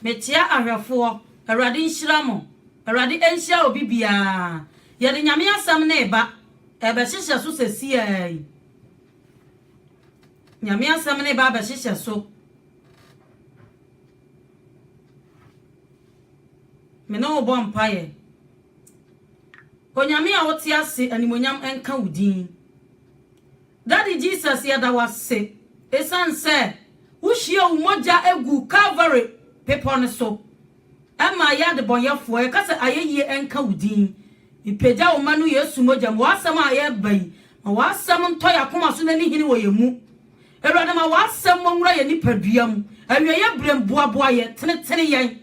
Mekyea ahwɛfoɔ, Awurade nhyira mo. Awurade ɛnhyira obi biara. Yɛde Nyame asɛm no reba, ɛrebɛhyehyɛ so sesiaa yi. Nyame asɛm no reba abɛhyehyɛ so. Me ne wo bɔ mpaeɛ. Onyame a wote ase animonyam nka wo din. Daddy Jesus yɛda wo ase esiane sɛ wo hwie wo mogya guu Calvary bepɔ no so ɛmaa yɛ adebɔyɛfoɔ yɛka sɛ ayɛyie nka wo din mepagya wo mma no Yesu mogya mu w'asɛm a yɛreba yi ma w'asɛm ntɔ yɛ akoma so na ni hene wɔ yɛ mu Awurade ma w'asɛm mɔ nwura yɛ nipadua mu awieɛ berɛ mu boaboa yɛ tenetene yɛn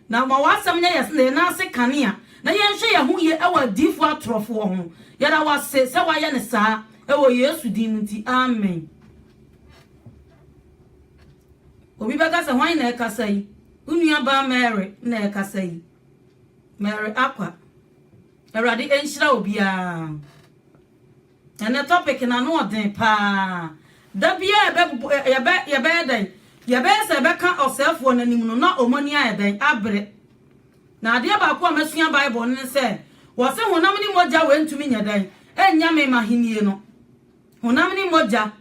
Na ma w'asɛm nyɛ yɛn sene, yɛn nan ase kanea, na yɛnhwɛ yɛn ho yie wɔ adiyifoɔ atorofoɔ ho. Yɛda wo ase sɛ woayɛ no saa, wɔ Yesu din mu nti, amen. Obi bɛka sɛ, hwan na ɛrekasa yi? Wo nuabaa Mary na ɛrekasa yi. Mary Akwa. Awurade nhyira obiara. Ɛnɛ topic no ano ɔden paa. Da biara yɛbɛ yɛbɛ yɛbɛyɛ dɛn? Yɛbɛyɛ sɛ yɛbɛka ɔsɛefoɔ no anim no na wɔn ani ayɛ dɛn? Abere. Na adeɛ baako a masua Bible no ne sɛ, wɔse honam ne mogya wei ntumi nyɛ dɛn? Ɛnnya me m'ahennie no. Honam ne mogya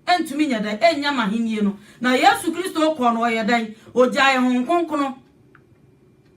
ntumi nyɛ dɛn? Ɛnnya m'ahennie no. Na Yesu Kristo kɔɔ no ɔyɛ dɛn? Ɔgyaee Honhom Kronkron.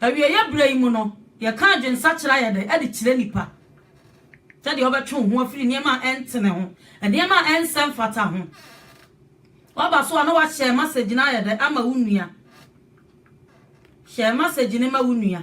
Awieeɛ berɛ yi mu no, yɛka adwensakyera a yɛde de kyerɛ nnipa sɛdeɛ wobɛtwe wo ho afiri nneɛma a ɛntene ho, nneɛma a ɛnsɛ mfata ho. Woaba so a na woahyɛ masɛgyi no ayɛ dɛ ama wo nua. Hyɛ masɛgyi no ma wo nua.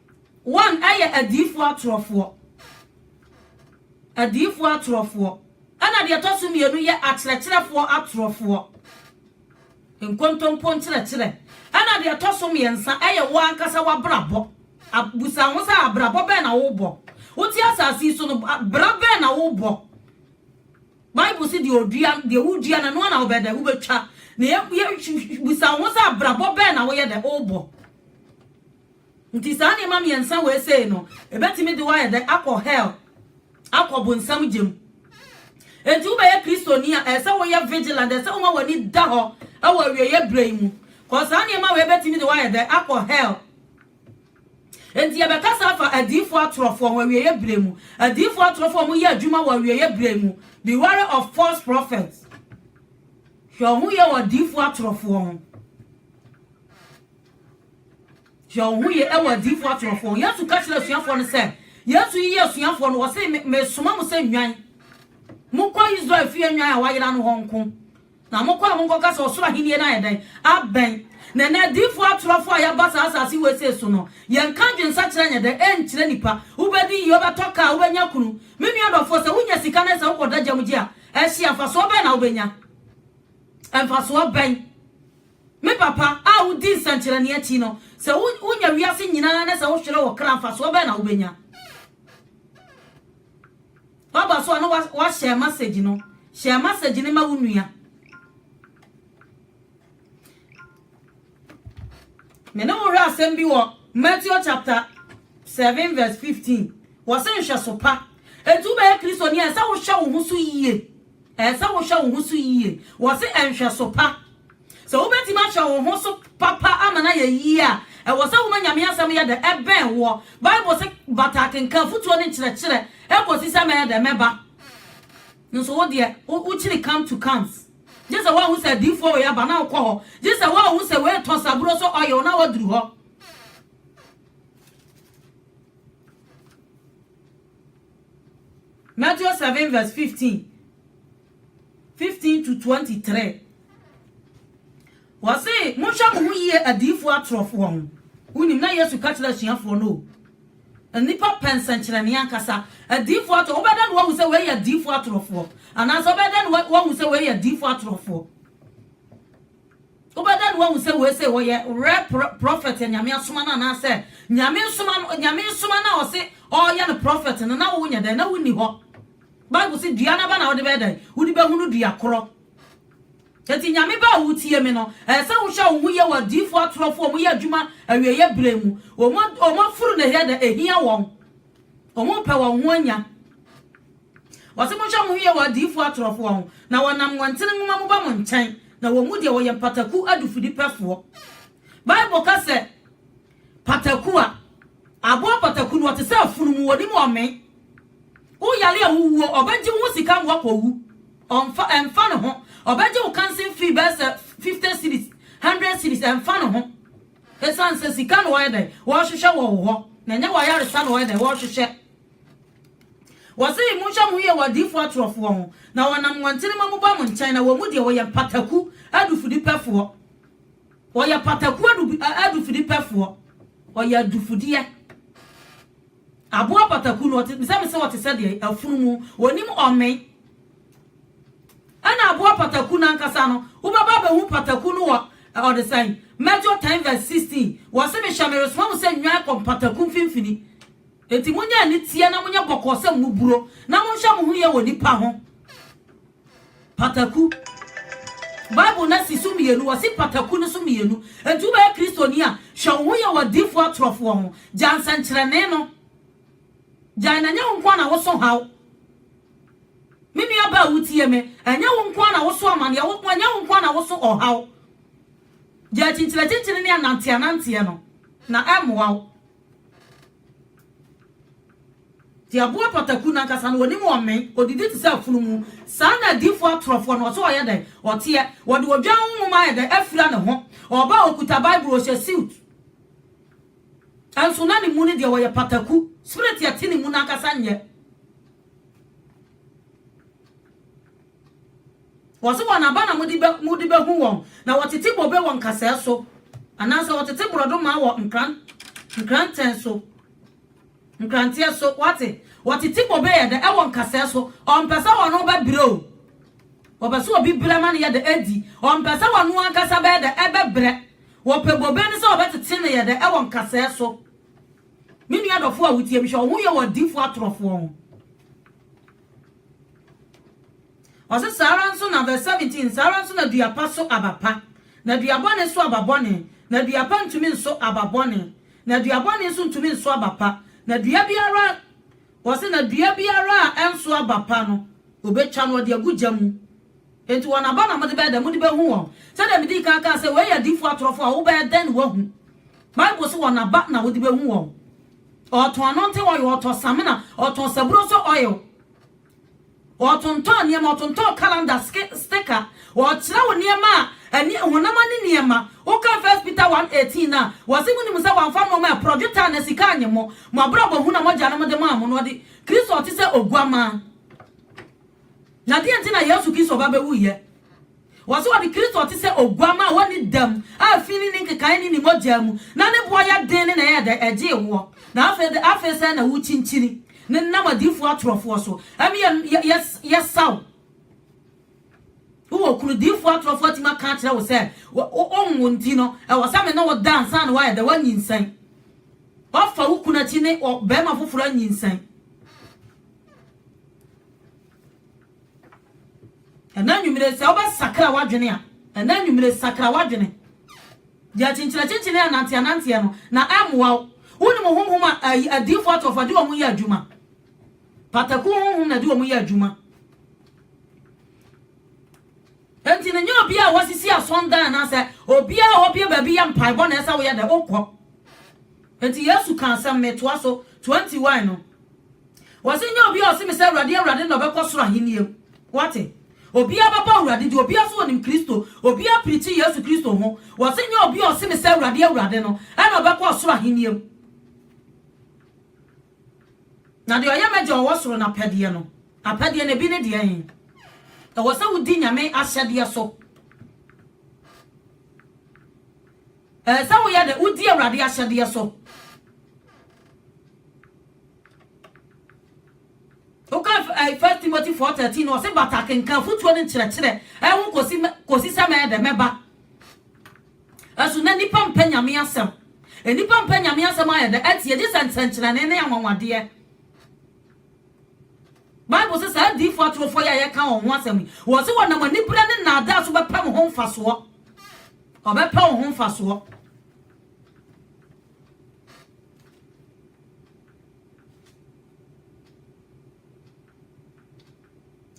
Wɔn yɛ adiyifoɔ atorɔfoɔ. Adiyifoɔ atorɔfoɔ. Ɛna deɛ ɛtɔ so mmienu yɛ akyerɛkyerɛfoɔ atorɔfoɔ. Nkontompo nkyerɛkyerɛ. Ɛna deɛ ɛtɔ so mmiɛnsa yɛ wo ankasa w'abrabɔ. Busa ho sɛ abrabɔ bɛn na wobɔ? Wote asase yi so no, bra bɛn na wobɔ? Bible se deɛ odua, deɛ wodua no, ɛno na wobɛ dɛ, wobɛtwa. Na yɛ, yɛ, busa ho sɛ abrabɔ bɛn na woyɛ dɛ, wobɔ? Enti saa nneɛma mmiɛnsa wei sei no, ɛbɛtumi de wo ayɛ dɛn? Akɔ hell, akɔ bonsam gya mu. Enti wobɛyɛ Kristoni a, ɛsɛ sɛ woyɛ vigilant, ɛsɛ sɛ woma w'ani da hɔ wɔ awieeɛ berɛ yi mu. Kɔ saa nneɛma wei bɛtumi de wo ayɛ dɛn? Akɔ hell. Enti yɛbɛkasa afa adiifoɔ atorɔfoɔ ho awieeɛ berɛ mu. Adiifoɔ atorɔfoɔ a wɔyɛ adwuma wɔ awieeɛ berɛ mu. Be wary of false prophets. Hwɛ wo ho yɛ wɔ adiifoɔ atorɔfoɔ ho. Hwɛ wo ho yie wɔ adiyifoɔ atorɔfoɔ ho. Yesu ka kyerɛɛ asuafoɔ no sɛ, Yesu yiyii asuafoɔ no, ɔse, Me, mesoma mo sɛ nnwan. Monkɔ Israel fie nnwan a wɔayera no hɔ nko. Na mokɔ a monkɔka sɛ, Ɔsoro ahennie no ayɛ dɛn? Abɛn. Na ɛnnɛ adiyifoɔ atorɔfoɔ a yɛaba saa asase wesee so no, yɛnka adwensakyera nyɛ dɛ? Ɛnkyerɛ nnipa. Wobɛdi yie, wobɛtɔ kaa, wobɛnya kunu. Me nua dɔfoɔ, sɛ wonya sika na sɛ wokɔda gya mu gye a, ɛhye a, mfasoɔ bɛn na wobɛnya? Mfasoɔ bɛn Me papa, a wudi nsɛnkyerɛnne akyi no, sɛ wunya wiase nyinaa na sɛ wohwere wo kra a, mfasoɔ bɛn na wobɛnya? Waba so a na wahyɛ masage no. Hyɛ masage no ma wo nua. Me ne wo hwɛ asɛm bi wɔ Matthew chapter 7 verse 15. Wɔse nhwɛso pa. Enti wobɛyɛ Kristoni a, ɛsɛ wohwɛ wo ho so yie. Ɛsɛ sɛ wohwɛ wo ho so yiye. Wɔse nhwɛso pa. Sɛ wubetumi ahwɛ wo ho so papa ama no ayɛ yiye a, ɛwɔ sɛ woma Nyame Asɛm yɛ dɛ bɛn woɔ. Bible se, Bata akenkan, afotuo ne nkyerɛkyerɛ, kosi sɛ mɛyɛ dɛ, mɛba. Nanso wo deɛ, wokyiri come to comes. Gye sɛ woahu sɛ adiyifoɔ wei aba na wokɔ hɔ. Gye sɛ woahu sɛ wei retɔn saburo so oil na woaduru hɔ. Matthew seven verse fifteen, fifteen to twenty three. Wɔse, monhwɛ mo ho yie adiyifoɔ atorɔfoɔ ho. Wonim na Yesu ka kyerɛ asuafoɔ no o. Nnipa pɛ nsɛnkyerɛnne ankasa. Adiyifoɔ atorɔ, wobɛdɛn na woahu sɛ wei yɛ adiyifoɔ atorɔfoɔ? Anaasɛ wobɛdɛn na woahu sɛ wei yɛ adiyifoɔ atorɔfoɔ? Wobɛda no woahu sɛ wei sei ɔyɛ real prophet a Nyame asoma no anaasɛ Nyame nsoma no, Nyame nsoma no a ɔse ɔyɛ no prophet no na wo nyɛ dɛn na wo nni hɔ. Bible se dua n'aba na wode bɛyɛ dɛn? Wode bɛhunu dua korɔ. Eti Nyame bɛ a wotie me no, ɛyɛ sɛ wohwɛ wo ho yie wɔ adiifoɔ atorɔfoɔ a wɔyɛ adwuma awieeɛ berɛ mu. Wɔn afuru na ɛyɛ dɛ ɛhia wɔn. Wɔn pɛ wɔn ho anya. Ɔse monhwɛ mo ho yie wɔ adiyifoɔ atorofoɔ ho, na wɔnam nwantene nwoma mu ba mo nkyɛn, na wɔn mu deɛ wɔyɛ mpataku adufudepɛfoɔ. Bible ka sɛ pataku a aboa pataku no ɔte sɛ afunumu, ɔnim ɔme. Wo yare a wowuo, ɔbɛgye wo ho sika ma woakɔwu. Ɔmfa, ɛmfa ne ho. Ɔbɛgye wo kansen fee bɛyɛ sɛ 50 cedis, 100 cedis, ɛmfa ne ho. Ɛsiane sɛ sika na ɔyɛ dɛn, ɔrehwehwɛ wɔ wo hɔ, na ɛnyɛ w'ayaresa na ɔyɛ dɛn, ɔrehwehwɛ. Wɔse, Monhwɛ mo ho yie wɔ adiyifoɔ atorofoɔ ho, na wɔnam wɔn ntenema mu ba mo nkyɛn, na wɔn mu deɛ wɔyɛ mpataku adufudepɛfoɔ. Wɔyɛ mpataku adufudepɛfoɔ. Wɔyɛ adufudeɛ. Aboa pataku no, ɔte, sɛ mesɛ ɔte sɛ deɛ afunumu, ɔnim ɔme. Ɛna aboa pataku no ankasa no, wobɛba abɛhu pataku no wɔ ɔde sɛn? Mɛtwo 10 vs 16, wɔse, Mehwɛ, meresoma mo sɛ nnwan kɔ mpataku mfimfini. Enti monyɛ aniteɛ na monyɛ bɔkɔɔ sɛ mmuburo, na monhwɛ mo ho yie wɔ nnipa ho. Pataku. Bible no asi so mmienu, wɔasi pataku no so mmienu. Enti wobɛyɛ Kristoni a, hwɛ wo ho yie wɔ adiyifoɔ atorofoɔ ho. Gyae nsɛnkyerɛnne no. Gyae na ɛnyɛ wo nko ara na woso haw. Me nuabaa a wotie me, ɛnyɛ wo nko ara na woso amaneɛ, wo, ɛnyɛ wo nko ara na woso ɔhaw. Gyae kyinkyinakyinkyini ne ananteananteɛ no, na ɛremmoa wo. Tiaboa pataku no ankasa no, wɔnim wɔn mmɛn, wɔdidi te sɛ afunumu. Saa na adiyifoɔ atorɔfoɔ no, wɔsɛ ɔyɛ dɛn? Ɔteɛ. Wɔde odwan ho nwoma ayɛ dɛn? Afira ne ho. Ɔba a, ɔkuta Bible, ɔhyɛ siut. Nso na ne mu no deɛ, ɔyɛ pataku. Spirit a ɛte ne mu no ankasa nyɛ. Wɔse wɔn aba na mode bɛhu wɔn, na wɔtete bobe wɔ nkasɛɛ so, anaasɛ wɔtete borɔdoma wɔ nkrantɛn so, nkranteɛ so. Wate? Wɔtete bobe yɛ dɛ wɔ nkasɛɛ so. Ɔmpɛ sɛ ɔno bɛbrɛ o. Wɔpɛ sɛ obi brɛ ma no yɛ dɛ di. Ɔmpɛ sɛ ɔno ankasa bɛyɛ dɛ ɛbɛbrɛ. Wɔpɛ bobe no sɛ wɔbɛtete no yɛ dɛ wɔ nkasɛɛ so. Me nua dɔfoɔ a wotie me, hwɛ wo ho yɛ wɔ adiyifoɔ atorɔfoɔ ho. Ɔse saa ara nso na verse 17, saa ara nso na dua pa so aba pa, na dua bɔne so aba bɔne, na dua pa ntumi nso aba bɔne, na dua bɔne nso ntumi nso aba pa, na dua biara, ɔse na dua biara a ɛnso aba pa no, obetwa no, ɔde agu gya mu. Enti wɔn aba na mode bɛyɛ dɛ, mode bɛhu wɔn. Sɛdeɛ medii kan kaa sɛ, wei yɛ adiyifoɔ atorɔfoɔ a wobɛyɛ dɛn na woahu? Bible se wɔn aba na wode bɛhu wɔn. Ɔtɔn anontee oil, ɔtɔ samina, ɔtɔn saburoso oil. Ɔtontɔn nneɛma, ɔtontɔn calendar, sticker. Ɔkyerɛw nneɛma a ani honam ani nneɛma. Woka First Peter 1:18 no a, wɔse munim sɛ wɔamfa nneɛma a ɛporɔ, dwetɛ anaa sika annye mo. Mo abrabɔ hunu a mo agyanom de maa mo no, ɔde Kristo a ɔte sɛ oguammaa. Na deɛn nti na Yesu Kristo ba bɛwuiɛ? Wɔse wɔde Kristo te sɛ oguamma a ɔnni dam a fi ne ne nkekaeɛ ne ne mogyaa mu, na ne boɔ yɛ den ne na ɛyɛ dɛ, ɛgyee woɔ, na afei de, afei sɛɛ na wokyinkyini no nam adiyifoɔ atorofoɔ so, ɛme yɛ, yɛ, yɛ, yɛsa wo. Wowɔ kunu, diyifoɔ atorofoɔ atumi aka akyerɛ wo sɛ, wo, wo, wonwo nti no, ɛwɔ sɛ me ne wo da ansa na woayɛ dɛ, woanyinsɛn. Woafa wo kunu akyi ne ɔ, barima foforɔ anyinsɛn. Ɛnnɛ anwummere, sɛ wobɛsakra w'adwene a, ɛnnɛ anwummere, sakra w'adwene. Deɛ akyinkyin-akyinkyin ne ananteɛ-ananteɛ no, na ɛmmoa wo. Wonim honhom a ayi, adiyifoɔ atorofoɔ de wɔn yɛ adwuma? Pataku honhom na ɛde wɔn yɛ adwuma. Enti no, nyɛ obiara a wasisi asɔndan anaasɛ obiara a wabue baabi yɛ mpaebɔ na ɛsɛ woyɛ dɛ, wokɔ. Enti Yesu kaa asɛm, metoa so, 21 no. Wɔse nyɛ obiara a ɔse me sɛ Awurade, Awurade na ɔbɛkɔ soro ahennie mu. Woate? Obiara bɛbɔ Awurade din, obiara nso ɔnim Kristo, obiara preachi Yesu Kristo ho. Wɔse nyɛ obiara a ɔse me sɛ Awurade, Awurade no na ɔbɛkɔ ɔsoro ahennie mu, na deɛ ɔyɛ m'Agya a ɔwɔ soro no apɛdeɛ no. Apɛdeɛ no, ebi ne deɛn? Ɛwɔ sɛ wodi Nyame ahyɛdeɛ so. Ɛsɛ sɛ woyɛ dɛ? Wodi Awurade ahyɛdeɛ so. Wokan F, eh, First Timothy 4:13 no, ɔse bata kenkan afotuo ne nkyerɛkyerɛ ɛho kosi, kosi sɛ mɛyɛ dɛ, mɛba. Ɛso na nipa mpɛ Nyame asɛm. Nipa mpɛ Nyame asɛm ayɛ dɛ atie gye sɛ nsɛnkyerɛnne ne anwanwadeɛ. Bible se saa adiifoɔ atorofoɔ yi a yɛka wɔn ho asɛm yi, wɔse wɔnam aniberɛ ne nnaadaa so bɛpɛ wo ho mfasoɔ. Ɔbɛpɛ wo ho mfasoɔ.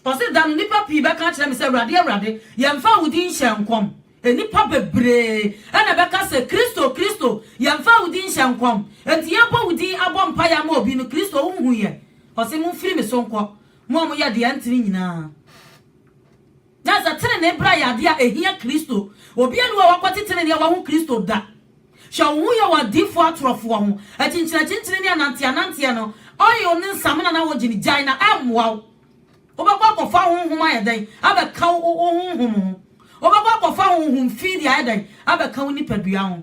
Ɔse, Da no nnipa pii bɛka akyerɛ me sɛ, 'Awurade, Awurade, yɛmfaa wo din nhyɛɛ nkɔm? Nnipa bebree na ɛbɛka sɛ, 'Kristo, Kristo, yɛmfaa wo din nhyɛɛ nkɔm? Enti yɛbɔ wo din abɔ mpaeɛ ama obi no, Kristo, wonhu yɛn? Ɔse, Momfiri me so nkɔ, mo a moyɛ deɛ ɛnte no nyinaa. Na sɛ trenee bra yɛ ade a ehia Kristo, obiara nni hɔ a wakwati trenee a wahu Kristo da. Hwɛ wo ho yɛ wɔ adiyifo atorofoɔ ho. Akyinkyinakyinkyini ne ananteɛananteɛ no, oil ne nsamena na wogye no, gyae na ɛmmoa wo. Wobɛkɔ akɔfa honhom ayɛ dɛn abɛka wo wo honhom ho? Wobɛkɔ akɔfa honhom fi de ayɛ dɛn abɛka wo nipadua ho?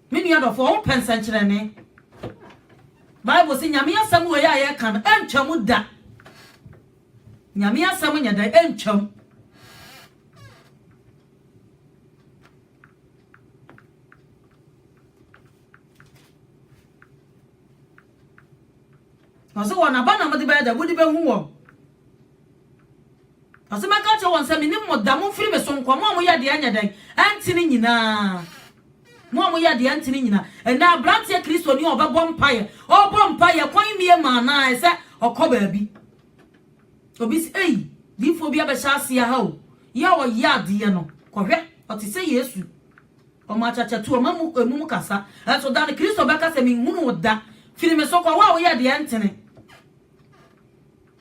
Me nua dɔfo, wompɛ nsɛnkyerɛnne. Bible se Nyame asɛm wei a yɛka no, ɛntwam da. Nyame asɛm nyɛ dɛn? Ɛntwam. Ɔse wɔn aba na mode bɛyɛ dɛ, mode bɛhu wɔn. Ɔse mɛka akyerɛ wɔn sɛ menim mo da, momfiri me so nkɔ, mo a moyɛ deɛ ɛnyɛ dɛn, ɛntene nyinaa. Mo a moyɛ deɛ ɛntene nyinaa. Ɛnnɛ aberanteɛ Kristoni a ɔbɛbɔ mpaeɛ, ɔrebɔ mpaeɛ, kwan mmie ma anaa ɛsɛ ɔkɔ baabi. Obi se, ei, diifoɔ bi abɛhyɛ aseɛ ha o. Yɛ a ɔyɛ adeɛ no, kɔhwɛ, ɔte sɛ Yesu. Ɔma akyakyatu, ɔma mu emum kasa. Ɛnso da no Kristo bɛka sɛ menhunu wo da, firi me so kɔ, wo a woyɛ deɛ ɛntene.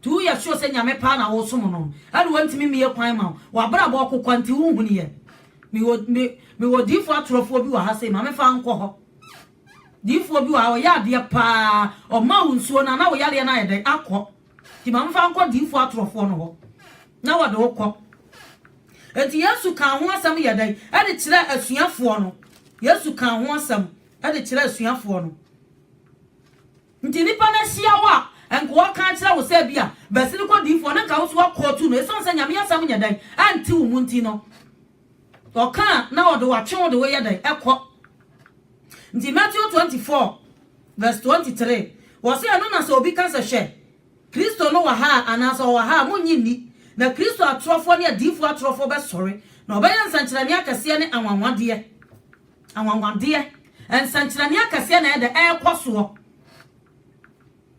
Nti woyɛ sure sɛ Nyame paa na wosom no ɛna wantumi mmie kwan ma wo? W'abrabɔ ɔko kwa nti wonhuniiɛ? Mewɔ me mewɔ diifoɔ atorɔfoɔ bi wɔ ha sei, ma me fa nkɔ hɔ. Diifoɔ bi wɔ ha ɔyɛ adeɛ paa, ɔmaa wo nsuo no a na wo yareɛ no ayɛ dɛn? Akɔ. Nti ma me fa nkɔ diifoɔ atorɔfoɔ no hɔ na wɔde wo kɔ. Nti Yesu kaa ho asɛm yɛ dɛn? Ɛde kyerɛɛ asuafoɔ no. Yesu kaa ho asɛm ɛde kyerɛɛ asuafoɔ no. Nti nnipa no ahyia wo a, nkoa ka nkyerɛ wo sɛ ebia Basilikɔ diyifoɔ no nka wo so akootu no esiane sɛ Nyame asɛm nyɛ dɛn ɛnte wo mu nti no. Ɔka a na ɔde wo atwe wo de wo yɛ dɛn ɛkɔ. Nti Matthew 24 vs 23 wɔ sɛ ɛno na sɛ obi ka sɛ hwɛ, Kristo no wɔ ha a anaa sɛ ɔwɔ ha a monnye nni, na Kristo atorɔfoɔ ne adiyifoɔ atorɔfoɔ bɛsɔre, na wɔbɛyɛ nsɛnkyerɛnne akɛseɛ ne anwanwadeɛ. Anwanwadeɛ, nsɛnkyerɛnne akɛseɛ na ɛyɛ dɛ ɛrekɔ soɔ.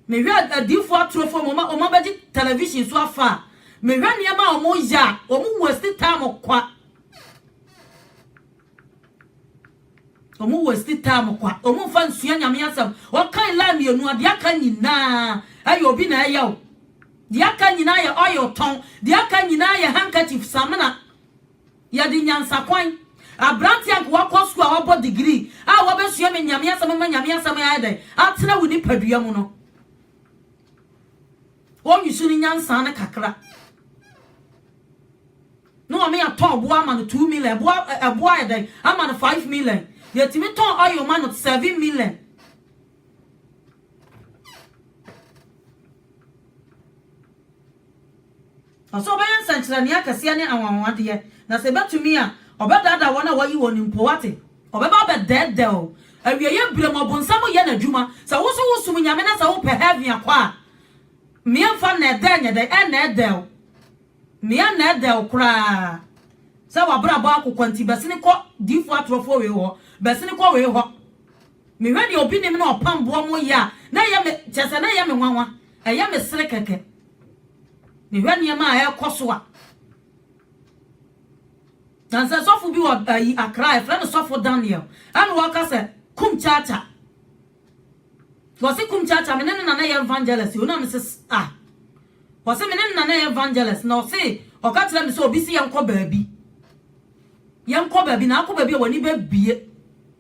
Mehwɛ adiifoɔ atorofoɔ mu, wɔn abɛgye television so afa a, mehwɛ nneɛma a wɔyɛ a, wɔn waste time kwa. Wɔn waste time kwa. Wɔn mfa nsua nyame asɛm. Wɔkan line mmienu a, deɛ aka nyinaa ɛyɛ obi na ɛyɛ o. Deɛ aka nyinaa yɛ oil tɔn. Deɛ aka nyinaa yɛ handkerchief samina. Yɛde nyansakwan, aberante a anka wakɔ sukuu a wabɔ degree a wabɛsua me Nyame asɛm ama Nyame asɛm ayɛ dɛn? Atena wo nipadua mu no. Wɔn use no nyansa no kakra. Na wɔn yɛ tɔn boa ama no two million, ɛboa ɛboa ayɛ dɛn? Ama no five million. Yɛtumi tɔn oil ma no seven million. Na sɛ ɔbɛyɛ nsɛnkyerɛnee akɛseɛ ne anwanwadeɛ, na sɛ ɛbɛtumi a, ɔbɛdaadaa wɔn a wɔayi wɔn mpo. Woate? Ɔbɛba abɛdɛɛdɛɛ wo. Awieeɛ berɛ mu, ɔbonsam reyɛ n'adwuma. Sɛ wo nso wosom Nyame na sɛ wopɛ heaven akɔ a, Me mfa nnɛɛdɛɛ nyɛ dɛn? Ɛnnɛɛdɛɛ wo. Me annɛɛdɛɛ wo koraa sɛ w'abrabɔ ako kwa nti, bɛsene kɔ diifoɔ atorɔfoɔ wei hɔ, bɛsene kɔ wei hɔ. Mehwɛ deɛ obi nim na ɔpam boɔ mo yɛ a, na ɛyɛ me, kyerɛ sɛ na ɛyɛ me nwanwa. Ɛyɛ me sere kɛkɛ. Mehwɛ nneɛma a ɛrekɔ so a, na sɛ sɔfo bi wɔ ayi Accra, ɛfrɛ no sɔfo Daniel, ɛna wɔka sɛ kum kyakya. Wɔse kum kyakya, me ne no na na yɛ evangelist, yɛ na me se ah. Wɔse me ne no na na yɛ evangelist, na ɔse ɔka kyerɛ me sɛ obi se yɛnkɔ baabi. Yɛnkɔ baabi, na akɔ baabi a w'ani bɛbie.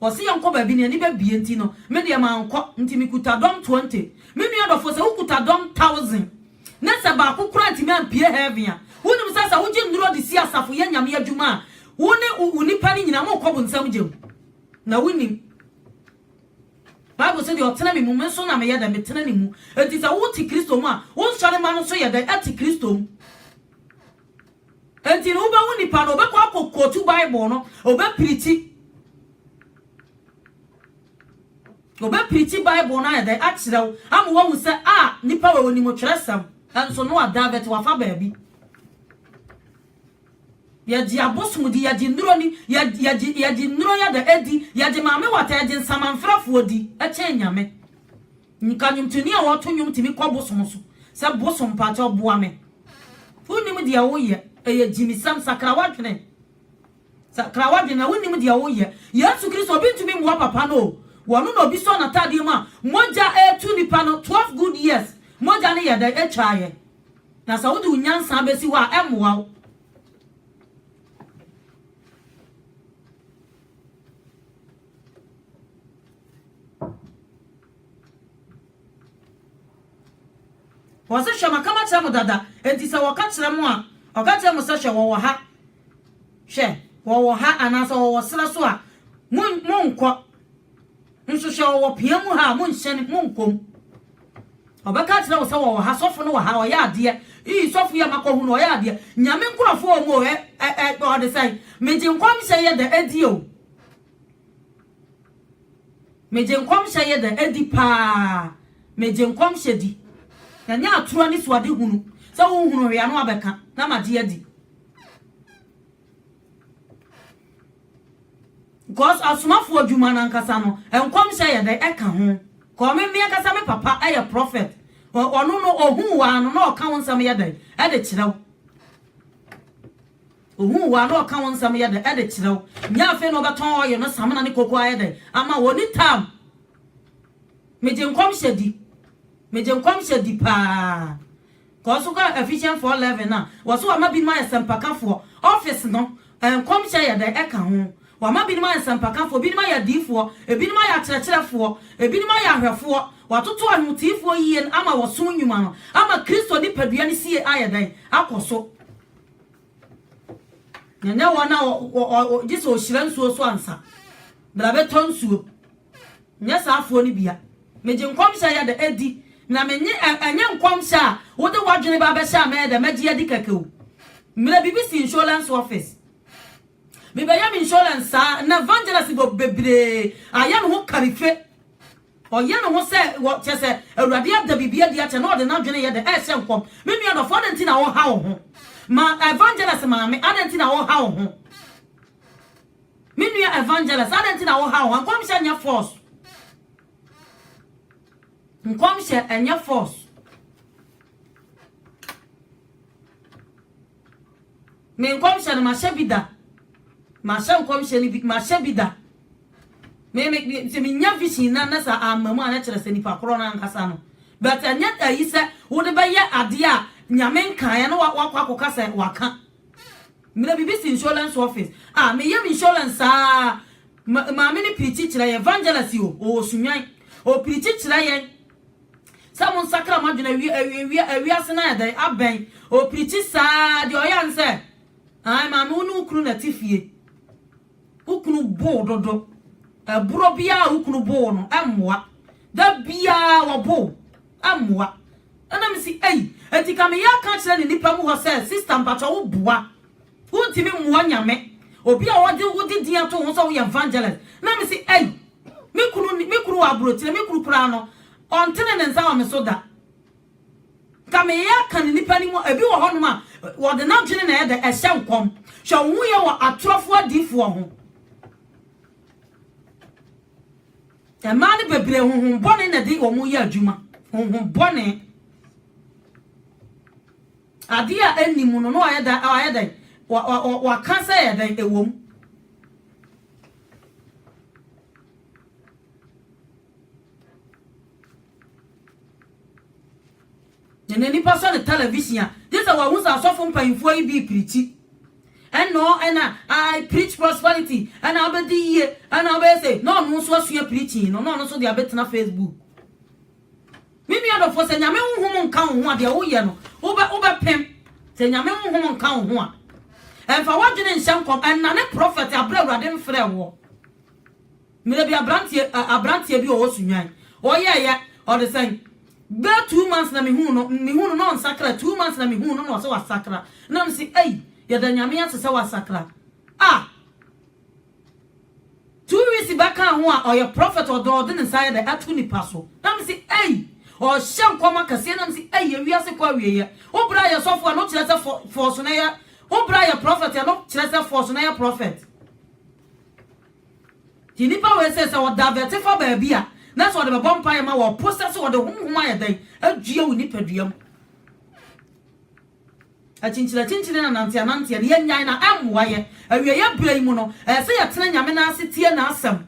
Ɔse yɛnkɔ baabi ne ani bɛbie nti no me deɛ mankɔ nti me kuta dɔm twenty me nua dɔfoɔ sɛ wo kuta dɔm thousand ne sɛ baako koraa antumi ampue heaven a wonim sɛ sɛ wogye nnuro de si asafo yɛ nyame adwuma a wo ne wo nnipa no nyinaa mokɔ bonsam gya mu na wonim Bible sɛ deɛ ɔtena me mu me nso na meyɛ dɛ metena ne mu nti sɛ wote Kristo mu a wo nsɔre ma no nso yɛ dɛ ɛte Kristo mu. Enti no, wubehu nipa no, obɛkɔ akɔ kootu Bible no, obɛpirikyi, obɛpirikyi Bible no ayɛ dɛn? Akyerɛ wo, ama woahu sɛ, a, nipa wei onim Twerɛsɛm. Nso no ada, but wafa baabi. Yɛgye abosom di, yɛgye nnuro ni, yɛ, yɛgye, yɛgye nnuro yɛ dɛn? Di, yɛgye maame wata, yɛgye nsamanfrɛfoɔ di, kyɛn Nyame. Nka nnwomtoni a wɔto nnwom tumi kɔ bosom so sɛ, Bosom pakyɛw boa me. Wonnim deɛ woyɛ. Ɛyɛ gyimisɛm. Sakra w'adwene. Sakra w'adwene na wonnim deɛ woyɛ. Yesu Kristo, obi ntumi mmoa papa no o. Wɔno na obi sɔ n'ataadeɛ mu a, mogya retu nipa no. Twelve good years, mogya no yɛ dɛn? Ɛtwaeɛ. Na sɛ wode wo nyansa bɛsi hɔ a, ɛmmoa wo. Wɔse, Hwɛ, maka makyerɛ mo dada, enti sɛ wɔka kyerɛ mo a, ɔka kyerɛ mo sɛ, Hwɛ, wɔwɔ ha, hwɛ, wɔwɔ ha, anaasɛ wɔwɔ serɛ so a, monkɔ. Nso hwɛ wɔwɔ pia mu ha a, monhyɛne, monkɔ mu. Wɔbɛka akyerɛ wo sɛ wɔwɔ ha, sɔfo no wɔ ha, ɔyɛ adeɛ, ii, sɔfo yi a makɔhu no, ɔyɛ adeɛ, Nyame nkurɔfoɔ wɔ mu o, ɛ, ɛ, ɛ, ɔde sɛn? Megye nkɔmhyɛ yɛ dɛ, ɛdi o. Megye nkɔmhyɛ yɛ dɛ, ɛdi paa. Megye nkɔmhyɛ di. Ɛnyɛ atorɔ anisoadehunu sɛ wonhunu hwee a na wabɛka na magye adi. Cause asomafo adwuma no ankasa no nkɔmhyɛ yɛ dɛ ɛka ho cause me me ankasa me papa yɛ prophet ɔno no ohuu waa no na ɔka wo nsɛm yɛ dɛ ɛde kyerɛ wo ohuu waa na ɔka wo nsɛm yɛ dɛ ɛde kyerɛ wo nyɛ afei na ɔbɛtɔn ɔyɛ no samina ne koko ayɛ dɛ ama wɔ ni tam megye nkɔmhyɛ di megye nkɔmhyɛ di paa Kɔ so kɔ Ephesians 4:11 a wɔse wɔama binom ayɛ sɛmpakafoɔ, office no, nkɔmhyɛ yɛ dɛn ɛka ho? Wɔama binom ayɛ sɛmpakafoɔ, binom ayɛ adiyifoɔ, ebinom ayɛ akyerɛkyerɛfoɔ, ebinom ayɛ ahwɛfoɔ, wɔatoto anwontiifoɔ yie no ama wɔsom nnwuma no ama Kristo nipadua no sie ayɛ dɛn? Akɔ so. Ɛnyɛ wɔn a gye sɛ ɔhyira nsuo so ansa bra bɛtɔ nsuo. Nyɛ saa afoɔ no bia. Megye nkɔmhyɛ yɛ dɛ ɛdi na menye ɛnyɛ nkɔmhyɛ a wode wadwene ba bɛhyɛ a mɛyɛ dɛ mɛgye adi kɛkɛ o. Mmerɛ bibi si insurance office mebɛyɛ me insurance saa na evangelist bebree ayɛ ne ho karife. Ɔyɛ ne ho sɛ wɔ, kyerɛ sɛ, Awurade ada biribi adi akyɛ na ɔde n'adwene yɛ dɛ rehyɛ nkɔm. Me nua dɔfo, adɛn nti na woreha wo ho? Ma Evangelist maame, adɛn nti na woreha wo ho? Me nua Evangelist, adɛn nti na woreha wo ho? Nkɔmhyɛ nyɛ force. Nkɔmhyɛ nyɛ force. Me nkɔmhyɛ no mahyɛ bi da. Mahyɛ nkɔmhyɛ no bi, mahyɛ bi da. Me me me sɛ menya vision na na sɛ amma mu a na kyerɛ sɛ nipa korɔ no ankasa no. But ɛnyɛ ayi sɛ wode bɛyɛ adeɛ a Nyame nkaeɛ na wakɔ akɔka sɛ waka. Mmerɛ bibi si insurance office. Ah, meyɛ me insurance saa. Ma, maame no pirikyi kyerɛ yɛn, evangelist o, ɔwɔ sunwan. Ɔpirikyi kyerɛ yɛn. Sɛ mo nsakra mo adwene awie awie awie awiase no ayɛ dɛn abɛn ɔpirikyi saa deɛ ɔyɛ ne sɛ ae maame wo ne wo kunu na te fie wo kunu bow dodo ɛborɔ biara wo kunu bow no ɛmmoa da biara wɔbow ɛmmoa ɛna me si ei enti ka meyɛ aka kyerɛ ne nipa mu hɔ sɛ sista mpatwa wo boa wontumi mmoa nyame obi a wɔde wode din ato ho sɛ woyɛ evangelist na me si ei Me kunu ni, me kunu wɔ aburokyire, me kunu koraa no, ɔntene ne nsa wɔ me so da. Nka meyɛ aka no nnipa no mu, ebi wɔ hɔnom a, wɔde n'adwene na ɛyɛ dɛ, ɛhyɛ nkɔm. Hwɛ wo ho yɛ wɔ atorɔfoɔ adiyifoɔ ho. Mmaa no bebree honhom bɔne na ɛde wɔn yɛ adwuma, honhom bɔne. Adeɛ a ɛnni mu no na wɔayɛ dɛn, wɔaka sɛ ɛyɛ dɛn, ɛwɔ mu. na n'ani pa sɔ ne television a gye sɛ wahu sɛ asɔfo mpanyimfoɔ yi bi pirikyi ɛnɔ ɛna i preach prosperity ɛna abɛdi yie ɛna abɛyɛ sɛ na ɔno nso asua pirikyi no na ɔno nso de abɛtena facebook Me nua dɔfoɔ sɛ Nyame honhom nka wo ho a deɛ woyɛ no wobɛ wobɛpem sɛ Nyame honhom nka wo ho a ɛmfa w'adwene nhyɛ nkɔm ɛnnane prɔfɛt aberɛ Awurade mfrɛ woɔ mmerɛ bi abranteɛ abranteɛ bi ɔwɔ sunwan ɔyɛɛyɛ ɔde sɛn bɛ two months na mehuu no mehuu no na ɔnsakra two months na mehuu no na ɔsɛ wasakra na msi ei yɛda Nyame ase sɛ wasakra ah Two weeks back kaa ho a ɔyɛ prophet ɔdɔ ɔde ne nsa yɛ dɛ ato nipa so na me se ei ɔhyɛ nkɔm akɛseɛ na me se ei ewiase kɔ awieɛ wo bra yɛ sɔfo ɛno kyerɛ sɛ fɔ fɔɔso na yɛ wo bra yɛ prophet ɛno kyerɛ sɛ fɔɔso na yɛ prophet ti nipa wei sɛ sɛ ɔda vɛte fa baabi a na sɛ ɔde bɛbɔ mpa yɛ ma wɔ ɔpo sɛ sɛ ɔde honhom ayɛ dɛn adua wo nipadua mu. Akyinkyinakyinkyin ne ananteananteɛ no, yɛnnyae na ɛmmoa yɛn. Awieeɛ berɛ yi mu no, ɛsɛ sɛ yɛtena Nyame nan ase tie N'asɛm.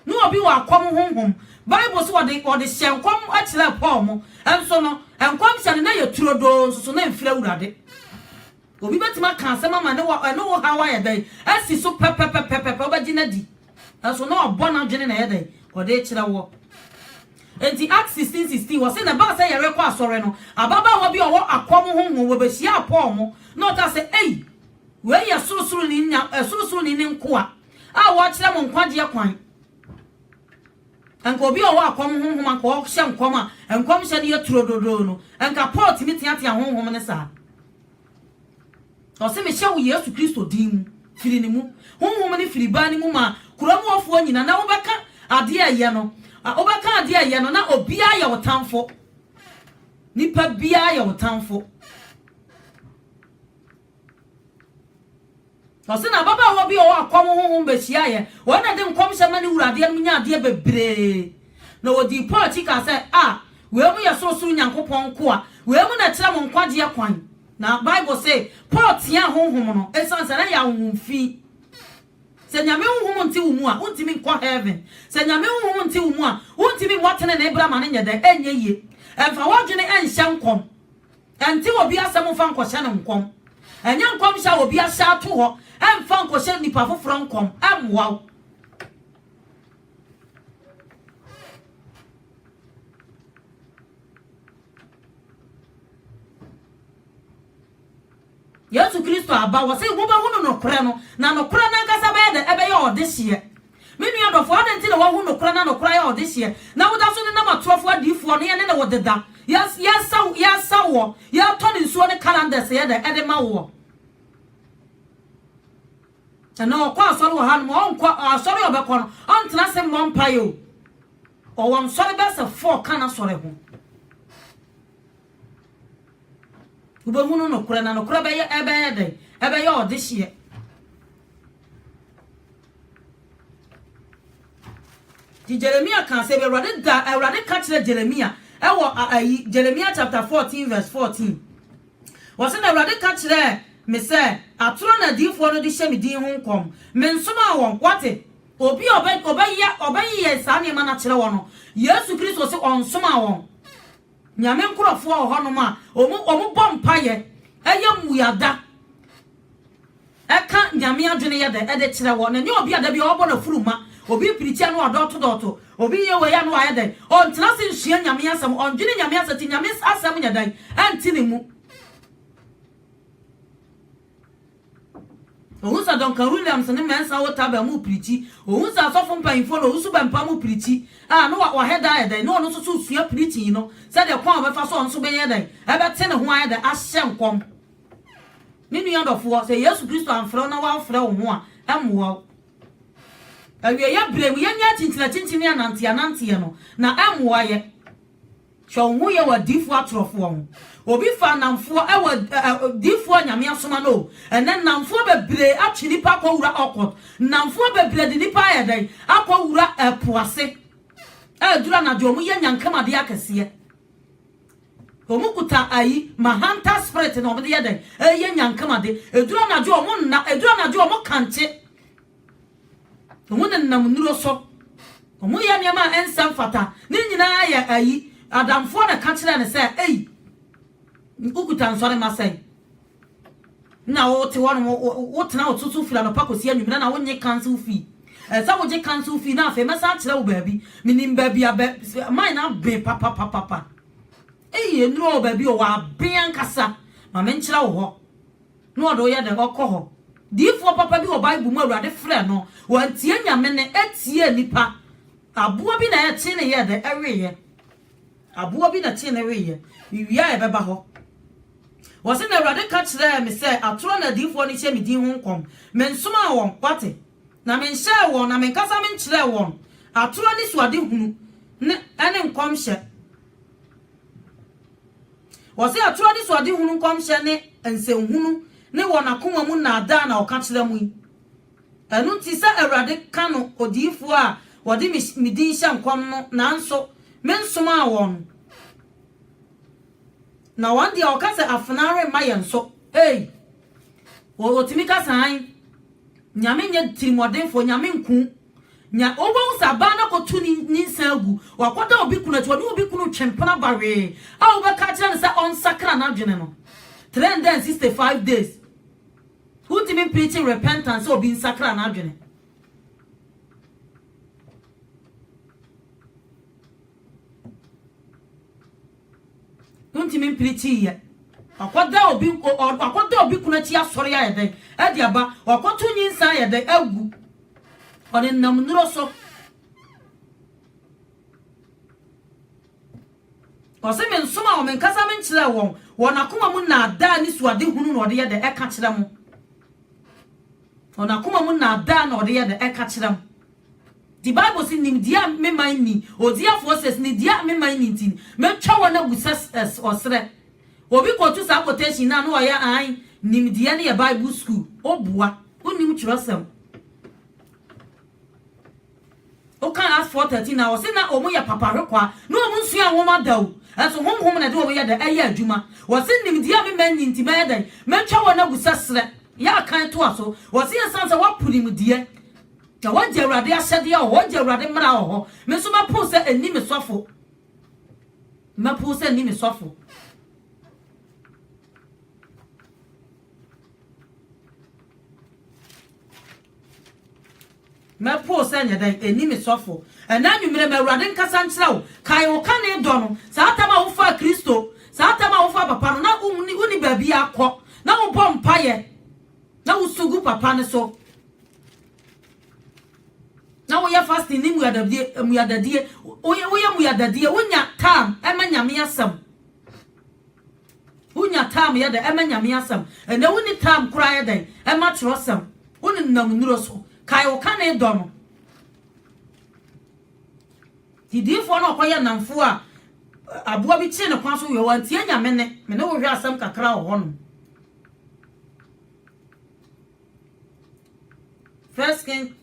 Ne obi wɔ akɔm honhom. Bible se wɔde wɔde hyɛɛ nkɔm kyerɛɛ Paul mo nso no, nkɔmhyɛ no na ɛyɛ turodoo nsoso na ɛmfiri Awurade. Obi bɛtumi aka asɛm ama ne wɔ ɛne wo haw ayɛ dɛn asi so pɛpɛpɛpɛpɛpɛ wobɛgye no adi. Nanso na ɔbɔ n'adwene na ɛyɛ dɛn? Ɔde rekyerɛ wɔ. Enti Acts sixteen sixteen, wɔse, Na ɛbaa sɛ yɛrekɔ asɔre no, ababaawa bi a ɔwɔ akɔm honhom wɔ behyiaa Paul mu, na ɔkaa sɛ, Ei, wei yɛ Sorosoroni no Nya, ɛ, Sorosoroni no nkoa a wɔrekyerɛ mo nkwagyeɛ kwan. Anka obi a ɔwɔ akɔm honhom, anka ɔhyɛ nkɔm a nkɔmhyɛ no yɛ turododoo no, anka Paul tumi teatea honhom no saa. Ɔse, Mehyɛ wo Yesu Kristo din mu, firi ne mu. Honhom no firi baa no mu maa kuro mu ɔfoɔ nyina, na wobɛka adeɛ a ɛyɛ no, wobɛka adeɛ a ɛyɛ no, na obiara yɛ wo tamfo. Nipa biara yɛ wo tamfo. Ɔse, na ababaawa bi a ɔwɔ akɔm honhom bɛhyiaeɛ, ɔno na de nkɔmhyɛ ma ne wura adeɛ no mu nya adeɛ bebree. Na ɔdii Paul akyi kaa sɛ, Ah, wei mu yɛ sorosoro Nyankopɔn nkoa, wei mu na ɛkyerɛ mo nkwagyeɛ kwan. Na Bible se Paul teaa honhom no esiane sɛ na ɛyɛ ahonhom fi. Sɛ Nyame honhom nte wo mu a, wontumi nkɔ heaven. Sɛ Nyame honhom nte wo mu a, wontumi mmɔ tenenee bra ma no nyɛ dɛn? Ɛnyɛ yie. Ɛmfa w'adwene ɛnhyɛ nkɔm. Ɛnte obi asɛm mfa nkɔhyɛ no nkɔm. Ɛnyɛ nkɔmhyɛ a obi ahyɛ ato hɔ ɛmfa nkɔhyɛ nnipa foforɔ nkɔm. Ɛmmoa wo. Yesu Kristo aba, wɔse wobɛhunu nokorɛ no, na nokorɛ no ankasa bɛyɛ dɛ? Ɛbɛyɛ ɔdehyeɛ. Me nua dɔfoɔ, adɛn nti na woahunu nokorɛ na nokorɛ ayɛ ɔdehyeɛ, na woda so nenam atorofoɔ adiyifoɔ no, yɛne ne wo deda, yɛsa, yɛsa woɔ, yɛtɔn nsuo ne calendars yɛ dɛ ɛde ma woɔ. Ɛnɛ ɔkɔ asɔre wɔ hanom a, ɔnkɔ asɔre a ɔbɛkɔ no, ɔntena ase mmɔ mpaeɛ o. Ɔwɔ nsɔre bɛyɛ sɛ four ka n'asɔre ho. Wobɛhunu nokorɛ na nokorɛ bɛyɛ ɛbɛyɛ dɛn? Ɛbɛyɛ ɔdehyeɛ. Nti Jeremia kaa sɛ Awurade da Awurade ka kyerɛ Jeremia ɛwɔ ayi Jeremia chapter 14 verse 14. Ɔse, Na Awurade ka kyerɛɛ me sɛ, Atorɔ na adiyifoɔ no de hyɛ me din ho nkɔm. Mensomaa wɔn. Woate? Obi a ɔbɛ, ɔbɛyɛ, ɔbɛyeyɛ saa nneɛma no akyerɛ wɔn no, Yesu Kristo se ɔnsomaa wɔn. Nyame nkorɔfoɔ wɔ hɔnom a, wɔn, wɔn bɔ mpaeɛ, ɛyɛ mmuada. Ɛka Nyame adwene yɛ dɛ de kyerɛ hɔ, na ɛnyɛ obi a da biara ɔbɔ n'afuru ma, obi pirikyi a na wadɔɔto dɔɔto, obi yɛ wei a na wayɛ dɛn, ɔntena ase nsua Nyame asɛm, ɔndwene Nyame asɛm nti Nyame asɛm nyɛ dɛn, ɛnte ne mu. Ohu sɛ Duncan Williams ne Mensa Otabil mu pirikyi, ohu sɛ asɔfo mpanyimfoɔ ne Owusu Bɛmpa mu pirikyi a na wahɛ da ayɛ dɛn, na ɔno nso so resua pirikyi no sɛdeɛ kwan a ɔbɛfa so a ɔno nso bɛyɛ dɛn, ɛbɛte ne ho ayɛ dɛn, ahyɛ nkɔm. Me nua dɔfoɔ, sɛ Yesu Kristo amfrɛ wo na wamfrɛ wo ho a, ɛmmoa wo. Awieeɛ berɛ mu, yɛnyɛ akyinkyinakyinkyini ne ananteɛananteɛ no, na ɛmmoa yɛ. Hwɛ wo ho yɛ wɔ adiyifoɔ atorɔfoɔ ho. Obi faa nnamfoɔ wɔ diyifoɔ a Nyame asoma no o. Ɛnnɛ nnamfoɔ bebree atwe nnipa akɔwura occult. Nnamfoɔ bebree de nnipa ayɛ dɛn? Akɔwura po ase. Ɛduru anadwo a, wɔyɛ nyankamuadeɛ akɛseɛ. Wɔn kuta ayi ma hunter spirit na wɔn de yɛ dɛn ɛyɛ nyankama de eduru anadwo wɔn nna eduru anadwo wɔn kankye wɔn nenam nnuro so wɔn yɛ nneɛma a ɛnsa mfata ne nyinaa yɛ ayi adamfoɔ na ɛka kyerɛ ne sɛ eyi nkukuta nsɔre ma sɛn. Nna wote hɔ no, wotsena wo tsotso fir anɔpa kosi ewimbir na wonye council fee. Sɛ wogye council fee na afei mɛsan akyerɛ wo baabi. Minyim baabi a bɛ mine no aben papapapapa. Ei, enuro o, baabi o, wɔaben ankasa. Ma menkyerɛ wo hɔ. Na ɔde wo yɛ dɛn? Ɔkɔ hɔ. Diyifoɔ papa bi wɔ Bible mu Awurade frɛɛ no, wantie Nyame nne, ɛtiee nnipa. Aboa bi na ɛtee ne yɛɛ dɛn? Ɛweeɛ. Aboɔ bi na tee ne weeɛ. Me wie a ɛbɛba hɔ. Wɔse na Awurade ka kyerɛɛ me sɛ atorɔ na adiyifoɔ no hyɛ me din ho nkɔm. Mensomaa wɔn, woate, na menhyɛɛ wɔn, na menkasa menkyerɛɛ wɔn atorɔ ne suadehunu ne ne nkɔmhyɛ. Wɔse atorɔ ne suadehunu nkɔmhyɛ ne nsɛnhunu ne wɔn akoma mu nnaadaa na wɔka kyerɛ mo yi. Ɛno nti, sɛ Awurade ka no odiyifoɔ a wɔde me me din hyɛ nkɔm no, nanso mensomaa wɔn, na wɔn deɛ wɔka sɛ afenaa remma yɛn so. Ei! Wɔ wɔtumi ka saa he? Nyame nyɛ tirimɔdenfoɔ, Nyame nku. Nya wobɛhu sɛ abaa no akɔto ne nyinsɛn agu, wakɔda obi kunu akyi, ɔne obi kunu twe mpena ba hwee a wobɛka akyerɛ no sɛ ɔnsakra n'adwene no, 365 days. Wontumi mpreache repentance sɛ obi nsakra n'adwene. Wontumi mpreache yɛ. Wakɔda obi wakɔda obi kunu akyi asɔre ayɛ dɛn ɛde aba wakɔto nyinsa ayɛ dɛn agu ɔnenam nnuro so. Ɔse, Mensomaa wɔn, menkasa menkyerɛɛ wɔn, wɔn akoma mu nnaadaa ne suadehunu na wɔde yɛ dɛ ɛka kyerɛ mo. Wɔn akoma mu nnaadaa na wɔde yɛ dɛ ɛka kyerɛ mo. Nti Bible se, nimdeɛ a me man nni, odiafoɔ says, nimdeɛ a me man nni nti, mɛtwa wɔn agu sɛ ɔserɛ. Obi kɔtu saa quotation no a, na ɔyɛ ae, nimdeɛ no yɛ Bible school. Woboa, wonnim twerɛsɛm. Wokan Acts four thirteen a, wɔse na wɔyɛ papa hwekwaa, na wɔn nsuaa nwoma da o, nso Honhom na ɛde wɔn yɛ dɛn? ɛyɛ adwuma. Wɔse nimdeɛ a me mma nni nti mɛyɛ dɛn? mɛtwa wɔn agu sɛ serɛ. Yah kan toa so, wɔse ɛsiane sɛ wɔapo nimdeɛ, na wɔagye Awurade ahyɛdeɛ wɔ hɔ, wɔagye Awurade mmara wɔ hɔ, me nso mɛpow sɛ ɛnni me sɔfo, mɛpow sɛ ɛnni me sɔfo. Mɛpow sɛ nyɛ dɛn, enni me sɔfo. Ɛnnɛ anwummere ma Awurade nkasa nkyerɛ wo. Kae wo kane dɔ no, saa tam a wofaa Kristo, saa tam a wofaa papa no, na wunni baabiara kɔ, na wobɔ mpaeɛ, na wosu gu papa no so, na woyɛ fasting ne mmuadadie, mmuadadie, woyɛ mmuadadie, wonya tam ma Nyame asɛm. Wunya tam yɛ dɛn ma Nyame asɛm? Ɛnɛ wunni tam koraa yɛ dɛn ma kyerɛwsɛm? Wonenam nnuro so kae wo kane dɔ no. Gyidifo no ɔkɔyɛ nnamfo a aboa bi kyee ne kwan so wɔ wantie Nyame ne me ne wo hwɛ asɛm kakra wɔ hɔnom. First King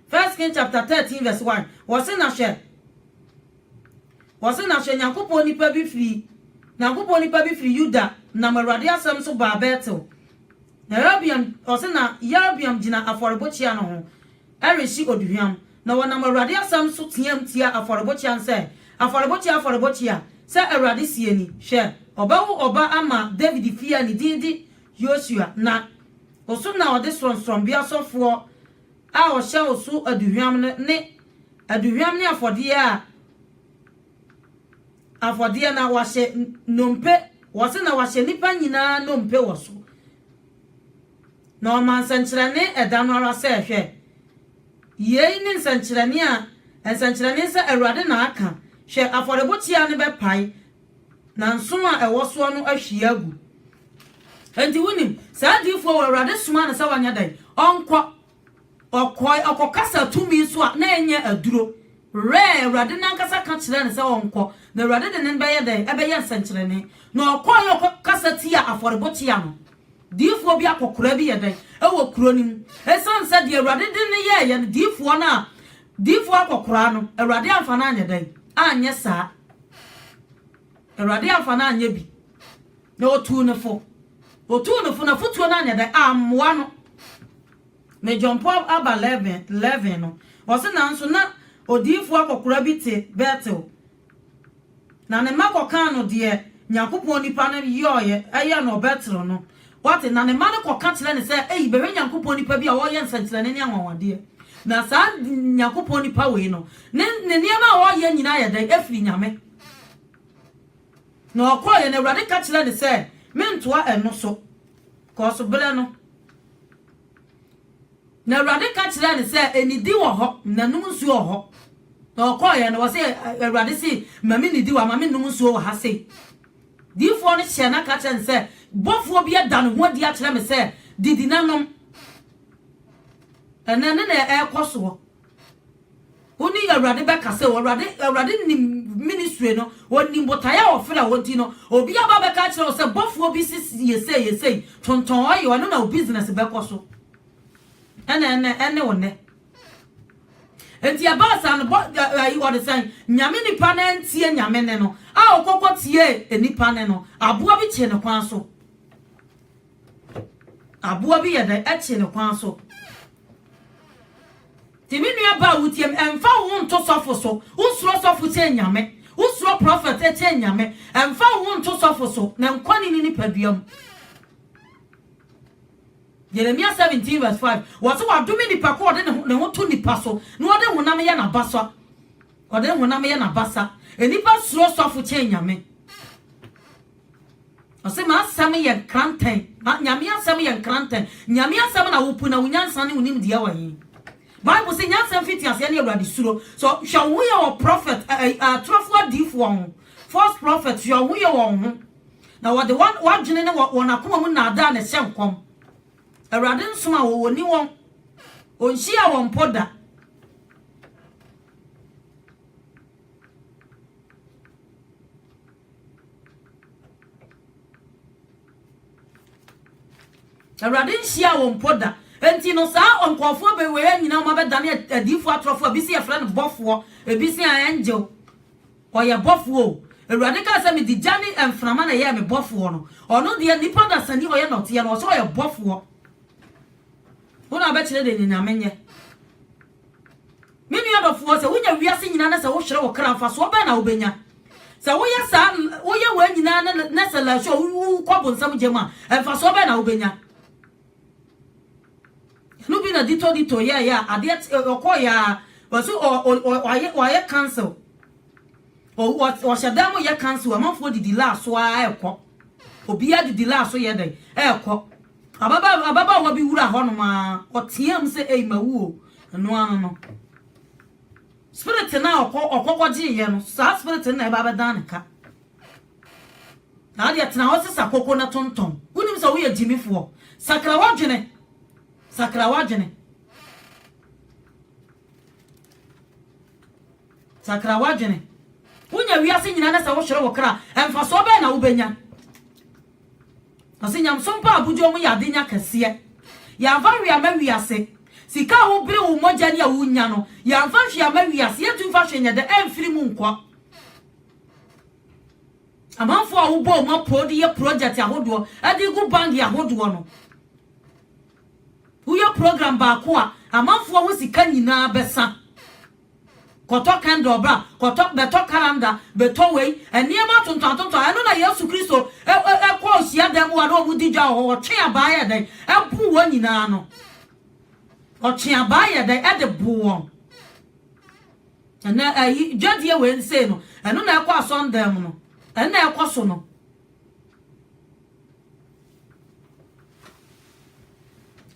First King chapter 13 verse 1 wɔse na hwɛ Wɔse na hwɛ Nyankopɔn nipa bi firi Nyankopɔn nipa bi firi Yuda nam Awurade asɛm so baa Betel. Na Yerobeam wɔse na Yerobeam gyina afɔrebokyea no ho rehye oduhwam, na wɔnam Awurade asɛm so teaam tia afɔrebokyea no sɛ, Afɔrebokyea, afɔrebokyea, sɛ Awurade seɛ ni, hwɛ, ɔbɛwo ɔba ama Dawid fie a ne din de Yosua, na oso na ɔde sorɔnsorɔnbea sɔfoɔ a ɔhyɛ wo so aduhwam no ne aduhwam ne afɔdeɛ a afɔdeɛ na wahyɛ nnompe wɔ so na wahyɛ nnipa nyinaa nnompe wɔ so. Na ɔma nsɛnkyerɛnne ɛda no ara sɛ, Hwɛ, yei ne nsɛnkyerɛnne a nsɛnkyerɛnne sɛ Awurade na aka, hwɛ, afɔrebokyea no bɛpae, Na nsõ a ɛwɔ soɔ no ahwie agu. Enti wonim, saa diyifoɔ wei, Awurade somaa no sɛ ɔnyɛ dɛn? Ɔnkɔ. Ɔkɔe, ɔkɔkasa tumi so a, na ɛnyɛ aduro. Rɛɛ, Awurade no ankasa ka kyerɛɛ no sɛ ɔnkɔ, na Awurade de no bɛyɛ dɛn? Ɛbɛyɛ nsɛnkyerɛnne. Na ɔkɔeɛ ɔkɔkasa tiaa afɔrebokyea no. Diyifoɔ bi akɔkoraa bi yɛ dɛn? Ɛwɔ kuro no mu. Ɛsiane sɛ deɛ Awurade de no yɛeɛ no, diyifoɔ no a Difo akɔkoraa no, Awurade amfa no anyɛ dɛn? Anyɛ saa. Awurade amfa no anyɛ bi, na ɔtuu no fo. Ɔtuu no fo, n'afotuo no anyɛ dɛn? Ammoa no. Me John Paul aba 11 no, ɔse, Nanso na odiyifoɔ akɔkoraa bi te Betel, Na ne mma kɔkaa no deɛ Nyankopɔn nipa no yɔɔeɛ, yɛɛ no ɔbɛtero no. Wate? Na ne mma no kɔka kyerɛ no sɛ, Ei, bɛhwɛ Nyankopɔn nipa bi a ɔɔyɛ nsɛnkyerɛnne ne anwanwadeɛ. Na saa Nyankopɔn nipa wei no, ne, ne nneɛma a ɔɔyɛ nyinaa yɛ dɛn? Efiri Nyame. Na ɔkɔɔeɛ, na Awurade ka kyerɛɛ no sɛ, Mentoa ɛno so, 'cause berɛ no. Na Awurade ka kyerɛɛ no sɛ, Nidi wɔ hɔ, na nom nsuo wɔ hɔ. Na ɔkɔeɛ no, wɔse Awurade se, ma me nidi wɔ ha, ma me nom nsuo wɔ ha sei. Diifoɔ no hyɛɛ no aka kyerɛ no sɛ, Bɔfoɔ bi ada ne ho adi akyerɛ me sɛ, Didi na nom. Ɛnɛ ne na ɛrekɔ soɔ. Wo ne Awurade bɛkasa o, Awurade, Awurade nim ministry no, onim botaeɛ a ɔfrɛ a ɔdi no. Obi aba bɛka akyerɛ wo sɛ bɔfoɔ bi si yɛsei yɛsei, tontɔn ɔyɛ, ɛno na wo business bɛkɔ so. Ɛna ɛnɛ, ɛne wo nɛ. Enti ɛbaa saa no, bɔ, ayi, ɔde sɛn, nyame nipa no antie nyame ne no, a ɔkɔkɔ tie nipa ne no, aboa bi kye ne kwan so. Aboa bi yɛ dɛn, ɛkye ne kwan so. Ti me nua baa wo tiam ɛnfa wo ho nto sɔfo so wo suro sɔfo kyɛn nyame wo suro prophet kyɛn nyame ɛnfa wo ho nto sɔfo so na nkɔ ne ne nipadua mu Jeremia 17 verse 5 wɔse wadome nipa ko ɔde ne ho to nipa so na ɔde honam yɛ n'abasa ɔde honam yɛ n'abasa nipa suro sɔfo kyɛn nyame Ɔse m'asɛm yɛ nkrantɛn, Nyame asɛm yɛ nkrantɛn, Nyame asɛm na wopu na wo nyansa ne wo nimdeɛ wɔ he? Bible se nyansa mfiti aseɛ ne Awurade suro, so hwɛ wo ho yɛ wɔ prophet, atorofoɔ adiifoɔ ho, false prophet, hwɛ wo ho yɛ wɔ wo ho, na wɔde w'adwene ne wɔn akoma mu naadaa na ɛhyɛ nkɔm. Awurade nsoma wɔn, wɔni wɔn, ɔnhyia wɔn mpo da. Awurade nhyiaa wɔn mpo da. Enti no, saa nkurɔfoɔ abɛwɛɛ nyinaa wɔn abɛdane adiifoɔ atorɔfoɔ. Ebi se yɛfrɛ no bɔfoɔ, ebi se angel. Ɔyɛ bɔfoɔ o. Awurade kaa sɛ, Mede gya ne mframa na ɛyɛɛ me bɔfoɔ no. Ɔno deɛ, nnipa dasani ɔyɛ nɔteɛ no, ɔse ɔyɛ bɔfoɔ. Wo na wobɛkyerɛ deɛ Nyame nyɛ. Me nua dɔfoɔ, sɛ wonya wiase nyinaa na sɛ wohwere wo kra, mfasoɔ bɛn na wobɛnya? Sɛ woyɛ saa, woyɛ wei nyinaa na, na sɛ lasu a wowu kɔ bonsam gya mu a, mfasoɔ bɛn na wobɛnya? Ɛno bi na Dito Dito yɛɛyɛ a adeɛ ɔkɔɔ yɛ a wɔso ɔyɛ cancel wɔhyɛ dan mu yɛ cancel amanfoɔ didi laa so ara ɛkɔ obiara didi laa so yɛ dɛn ɛkɔ Ababaa, ababaawa bi wuraa hɔnom ara, ɔteaam sɛ, Ei, mawu o! Ɛno ara no, spirit no a ɔkɔ, ɔkɔ kɔgyeeɛ no, saa spirit no na ɛba abɛdan ne ka. Saa deɛ tena hɔ sesa koko na tontɔn. Wonim sɛ woyɛ gyimifoɔ. Sakra w'adwene. Sakra w'adwene. Sakra w'adwene. Wonya wiase nyinaa na sɛ wohwere wo kra, mfasoɔ bɛn na wobɛnya? Ɔse nyamesom pa abodwoɔ mu yɛ adenya kɛseɛ. Yɛanfa hwee ama wiase. Sika a wobere wo mogya ni a wonya no, yɛanfa hwee ama wiase. Yɛntumi mfa hwee nyɛ dɛ, ɛmfiri mu nkɔ. Amanfoɔ a wobɔ wɔn apoo de yɛ project ahodoɔ, de gu bank ahodoɔ no, woyɛ program baako a, amanfoɔ ho sika nyinaa bɛsa. Kɔtɔ candle bra, kɔtɔ, bɛtɔ calendar, bɛtɔ wei, nneɛma atontɔn atontɔn. Ɛno na Yesu Kristo kɔ hyiadan mu hɔ a na wɔdi dwa wɔ hɔ, ɔtwe abaa yɛ dɛn? Ɛbo wɔn nyinaa no. Ɔtwe abaa yɛ dɛn? Ɛde bo wɔn. Ɛnɛ ɛyi dwadie wei nsei no, ɛno na ɛkɔ asɔndan mu no, ɛno na ɛkɔ so no.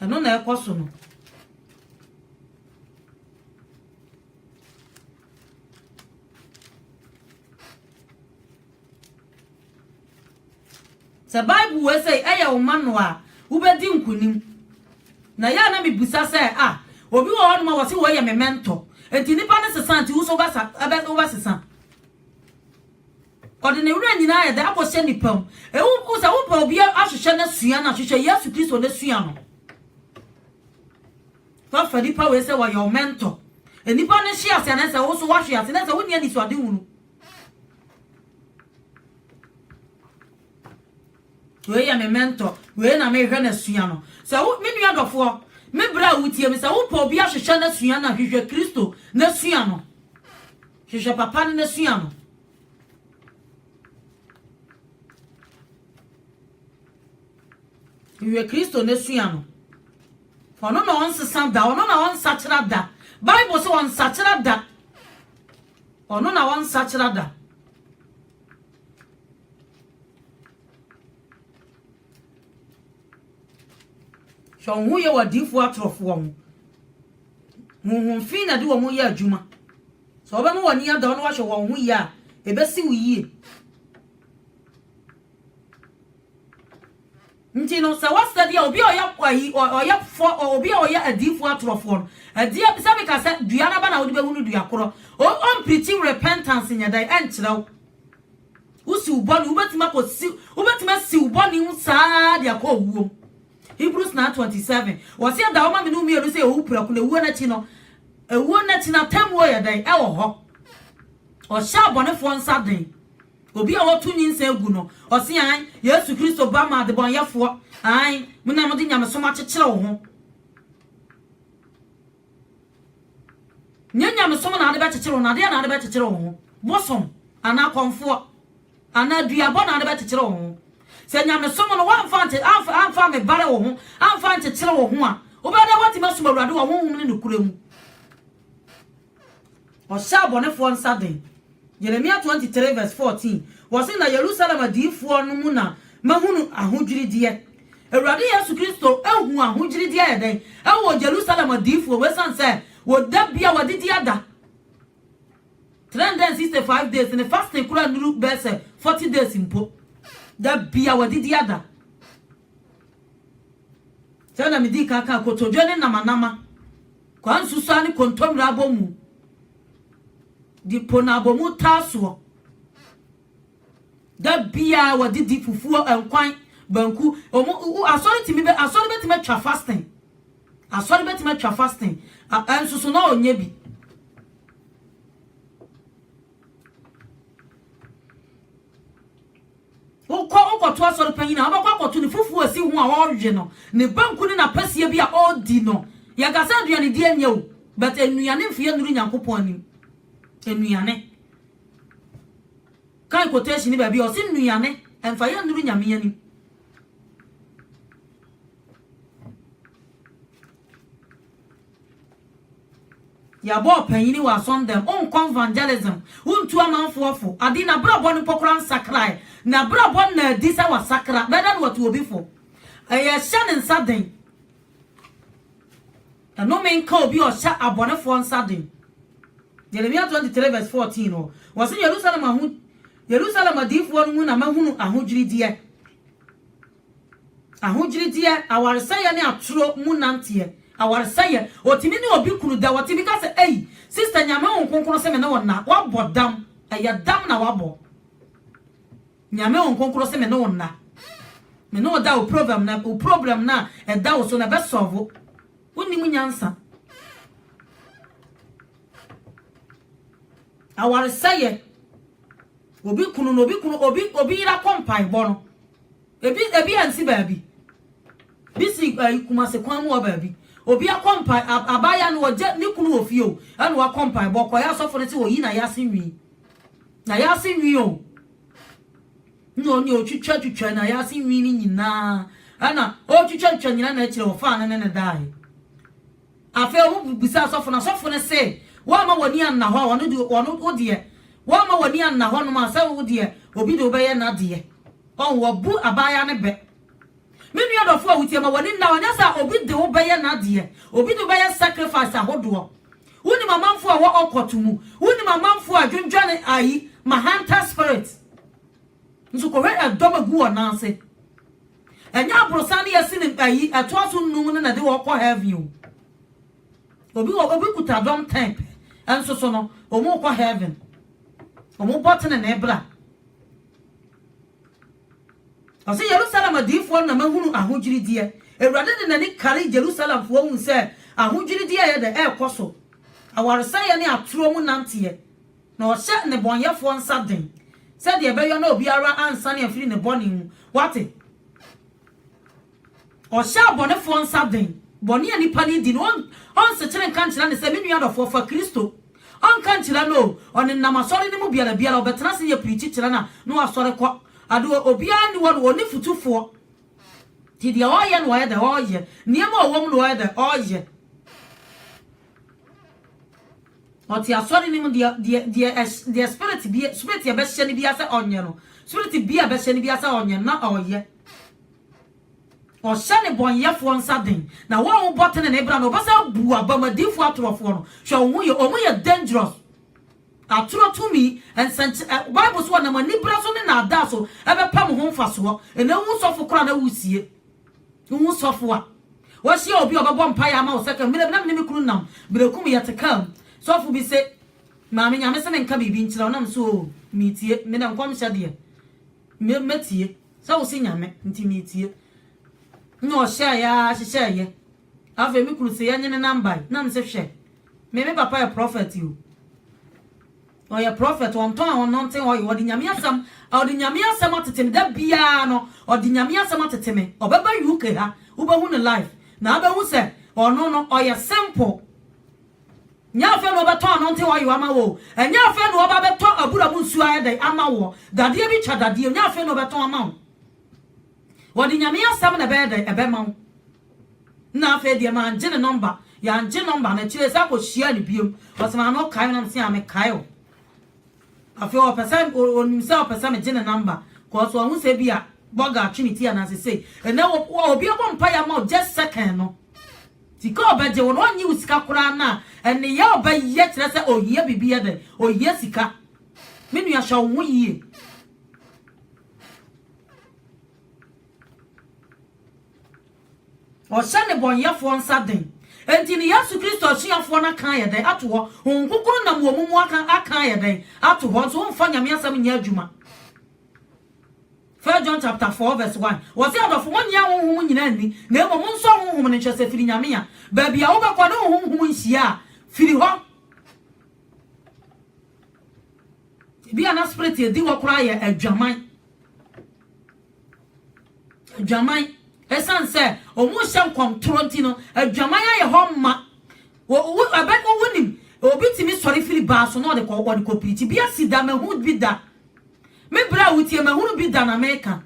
Ɛno na ɛkɔ so no. Sɛ Bible wei sɛ ɛyɛ wo ma no a, wobɛdi nkonim. Na yɛ a na mebisa sɛ, a, ah, obi wɔ hɔ nom a wɔse wɔyɛ me mɛntɔ. Enti nipa no sesa nti wo so wobɛsesa. Ɔde ne werɛ nyinaa yɛ dɛ akɔhyɛ nipa mu. Ewu sɛ wopɛ obi ahwehwɛ no asua no ahwehwɛ Yesu Kristo no asua no. Fa fa nnipa wei sɛ wɔyɛ wo mentor. Nnipa no hwe ase a, na ɛsɛ sɛ wo nso woahwe ase. Na ɛsɛ sɛ wonni anisoadehunu. Wei yɛ me mentor. Wei na mehwɛ no asua no. Sɛ wo, me nua dɔfoɔ, me berɛ a wotie me, sɛ wopɛ obi ahwehwɛ no asua no a, hwehwɛ Kristo na sua no. Hwehwɛ papa no na sua no. Hwehwɛ Kristo na sua no. Ɔno na ɔnsesa da, ɔno na ɔnsakyera da. Bible se ɔnsakyera da. Ɔno na ɔnsakyera da. Hwɛ wo ho yɛ wɔ adiifoɔ atorɔfoɔ ho. Honhom fi na de wɔn yɛ adwuma. Sɛ wɔbɛma wɔn ani ada wo na wahwɛ wɔn ho yie a, ɛbɛsi wo yie. Nti no, sɛ wɔsɛ deɛ obi a ɔyɛ ayi, ɔyɛ fɔ, obi a ɔyɛ adiifoɔ atorɔfoɔ no, ɛdeɛ bi sɛ meka sɛ dua no aba na wode bɛhunu dua korɔ. O, ɔmprikyi repentance nyɛ dɛn ɛnkyerɛ wo. Wosi wo bɔne, wobɛtumi akɔ si, wobɛtumi asi wo bɔne ho saa ara de akɔ owuo mu. Hebrews 9:27, wɔse ɛda hɔ ma me ne wo mmienu sɛ yɛwɔ wo prɛko na ewuo no akyi no, ewuo no akyi no atemmuo yɛ dɛn? Ɛwɔ hɔ. Ɔhyɛ abɔnefoɔ nsa den. Obi a wɔto nyinsɛn gu no, ɔse aane, Yesu Kristo ba maa adebɔneyɛfoɔ, aane, mo na mode nyamesom akyekyere wo ho. Nyɛ nyamesom na ade bɛkyekyere wo no, adeɛ na ade bɛkyekyere wo ho, bosom, anaa kɔmfoɔ, anaa duabɔ na ade bɛkyekyere wo ho. Sɛ nyamesom no woamfa amfa ammebare wo ho, amfa ankyekyere wo ho a, wobɛyɛ dɛn woatumi asom Awurade wɔ honhom ne nokorɛ mu? Ɔhyɛ abɔnefoɔ nsa den. Jeremia twenty three verse fourteen, Wɔse na Yerusalem adiyifoɔ no mu na mahunu ahodwirideɛ. Awurade Yesu Kristo huu ahodwirideɛ ayɛ dɛn wɔ Jerusalem adiyifoɔ mu ɛsiane sɛ wɔda bi a wɔadidi ada three hundred and sixty five days ne fasting koraa nnuru bɛyɛ sɛ forty days mpo. Da bi a wɔadidi ada. Sɛdeɛ medii kan kaa, kotodwe ne namanama Kwa nsusuaa ne kontommire abɔmu de po no abɔmu taa soɔ. Da biara wɔde di fufuo, nkwan, banku. Wɔn wo asɔre tumi bɛ asɔre bɛtumi atwa fasting. Asɔre bɛtumi atwa fasting. Ɛnso so na ɔnyɛ bi. Wokɔ, wokɔto asɔre panyin a, wobɛkɔ akɔto no fufu a esi ho a ɔrewe no, ne banku ne n'apasia bi a ɔredi no. Yɛka sɛ aduanedi nyɛ o, but nnuane mfeɛ nnuru Nyankopɔn anim. Nnuane. Kae quotation no baabi a ɔse nnuane ɛmfa yɛ nnuru Nyame anim. Yɛabɔ ɔpanyin wɔ asɔr dɛm ɔnkɔ evangelism, onntu amamfoɔ fo, ade n'abrabɔ no mpo koraa nsakrae. N'abrabɔ nna adi sɛ wasakra, rather na watu obi fo. Yɛhyɛ ne nsa den. Nnome nka obi a ɔhyɛ abɔnefoɔ nsa den. Jeremia 23 vs 14 hɔ, wɔse Yerusalem aho, Yerusalem adiyifoɔ no mu na mahunu ahodwirideɛ. Ahogyirideɛ, awaresɛeɛ ne atoro mu nanteɛ. Awaresɛeɛ, Ɔtumi ne obi kunu da, ɔtumi ka sɛ, Ei, sista Nyame Honhom Kronkron se me ne wo nna, wabɔ dam, ɛyɛ dam na wabɔ. Nyame Honhom Kronkron se me ne wo nna, me ne wo da, wo provem no, wo problem no a ɛda wo so no ɛbɛ sɔvo. Wonnim nyansa. Awaresɛeɛ. Obi kunu no, obi kunu, obi obi yera kɔ mpaebɔ no. Ebi ebi ansi baabi. Bi si uh, eh, kumase kwan mu wɔ baabi. Obi akɔ mpa abaya no ɔgye ne kunu wɔ fie o. Ɛna wakɔ mpaebɔ kɔ yɛ asɔfo no sɛ oyi na yɛase nwi. Na yɛase nwi o. Na ɔne otwitwa twitwa na yɛase nwi no nyinaa. Ɛna otwitwa twitwa nyinaa na akyerɛ ɔfaa no ne ne dae. Afei wɔbisaa ɔsɔfo no, ɔsɔfo no see, Woamma w'ani anna hɔ a ɔno de, ɔno, wo deɛ, woamma w'ani anna hɔnom a sɛ wo deɛ obi de wo bɛyɛ n'adeɛ. Ɔho, wɔbu abaayaa no bɛ. Me nua dɔfoɔ a wotie, ma w'ani nna hɔ, ɛnyɛ sɛ obi de wo bɛyɛ n'adeɛ, obi de wo bɛyɛ sacrifice ahodoɔ. Wonim amanfoɔ a ɛwɔ occult mu, wonim amanfoɔ a ɛdwendwene ayi, ma hunter spirit. Nso kɔhwɛ ɛdɔm egu wɔn nan ase. Ɛnyɛ aborosan ne yɛsi ne ayi ɛtoa so nnum no na ɛde wɔn kɔ heaven o. Obi wɔ obi kuta dɔm ten pɛ nso so no wɔn rekɔ heaven. Wɔn bɔ tenenee bra. Ɔsɛ Yerusalem adiyifoɔ no na mahunu ahodwirideɛ. Awurade de n'ani kari Jerusalemfoɔ hunu sɛ ahodwirideɛ ɛyɛ dɛ ɛrekɔ so, awaresɛeɛ ne atoro mu nanteɛ. Na ɔhyɛ nnebɔneyɛfoɔ nsa den, sɛdeɛ ɛbɛyɔ na obiara ansane amfiri ne bɔne mu. Woate? Ɔhyɛ abɔnefoɔ nsa den, bɔne a nnipa no redi no, ɔn, ɔnsekyere nka nkyerɛ no sɛ, Me nua dɔfoɔ, fa Kristo. Ɔnka nkyerɛ no o, ɔnenam asɔre no mu biara biara, ɔbɛtena ase yɛ pirikyi kyerɛ no a, na wasɔre kɔ. Ade o, obiara nni hɔ no, ɔnni fotufoɔ. Nti deɛ ɔreyɛ no, ɔyɛ dɛ? Ɔreyɛ. Nneɛma a ɔwɔ mu no, ɔyɛ dɛ? Ɔreyɛ. Ɔte asɔre no mu, deɛ, deɛ, deɛ ɛs, deɛ spirit bia, spirit a ɛbɛhyɛ no biara sɛ ɔnyɛ no, spirit bia a ɛbɛhyɛ no biara sɛ ɔnyɛ no, na ɔreyɛ. Ɔhyɛ nnebɔneyɛfoɔ nsa den, na wɔn a wɔbɔ tenenee bra no, wɔbɛsan abu abam, adiyifoɔ atorofoɔ no, hwɛ wɔn ho yie, wɔn yɛ dangerous. Atoro tumi, nsɛnky, ɛ, Bible so wɔnam aniberɛ so ne nnaadaa so ɛbɛpɛ mo ho mfasoɔ, ɛnna wohu sɔfo koraa na woresie. Wo sɔfo a, wahyia obi a ɔbɛbɔ mpaeɛ ama wo sɛ ka mmerɛ bi na me ne me kunu nam Berekum yɛte car mu sɔfo bi se maame Nyame se menka biribi nkyerɛ wo na me se oo meetie me dɛ nkɔmhyɛ deɛ me mɛtie sɛ wo se Nyame nti meetie na ɔhyɛɛ a hyehyɛɛ yɛ afei me kunu se yɛnye ne nam bae na me se hwɛ me me papa yɛ prophet o Ɔyɛ prɔfɛt, ɔntɔn a ɔnnante hɔ ye, ɔde Nyame asɛm, ɔde Nyame asɛm atete me, da biaa no ɔde Nyame asɛm atete me, ɔbɛba UK ha, wobɛhu no live, na abɛhu sɛ ɔno no ɔyɛ simple, nyɛ afei na ɔbɛtɔn anɔnte hɔ ye ama wo, ɛnyɛ afei na ɔba bɛtɔ abura mu nsuo ayɛ dɛn ama woɔ, dadeɛ bi twa dadeɛ, nyɛ afei na ɔbɛtɔn ama wo. Wɔde Nyame asɛm na ɛbɛyɛ dɛn? Ɛbɛma wo. Nna afei deɛ mangye ne nɔmba. Yangye nɔmba no akyire san kɔ hyiaa no biom. Ɔse maame wokae me? Na mese yaa mekae wo. Afei ɔpɛ sɛ onim sɛ ɔpɛ sɛ megye ne nɔmba cause wahu sɛ bi a bɔga atwe ne ti anaa sesei. Ɛnɛ wɔ obi abɔ mpaeɛ ama wo just second no sika ɔbɛgye wo no ɔnye wo sika koraa no a ɛneyɛ ɔbɛyɛ kyerɛ sɛ ohia biribi yɛ dɛn? Ohia sika. Me nua hwɛ wo ho yie. Ɔhyɛ nnebɔneyɛfoɔ nsa den. Enti ne Yesu Kristo asuafoɔ no aka ayɛ dɛn ato hɔ? Honhom Kronkron nam wɔn mu aka aka ayɛ dɛn ato hɔ? Nso womfa Nyame asɛm nyɛ adwuma. First John chapter 4 verse 1. Wɔse adɔfo monnye ahonhom nyinaa nni, na mmom monsɔ honhom no nhwɛ sɛ firi Nyame a. Baabi a wobɛkɔ ne honhom nhyia a, firi hɔ. Ebia na spirit a edi hɔ koraa yɛ adwaman. Adwaman. Esiane sɛ wɔrehyɛ nkɔmtorɔ nti no, adwaman ayɛ hɔ ma. Wonim, obi tumi sɔre firi baa so na ɔde kɔpirikyi. Bi asi da, mahu bi da. Me berɛ a wotie, mahunu bi da na meka.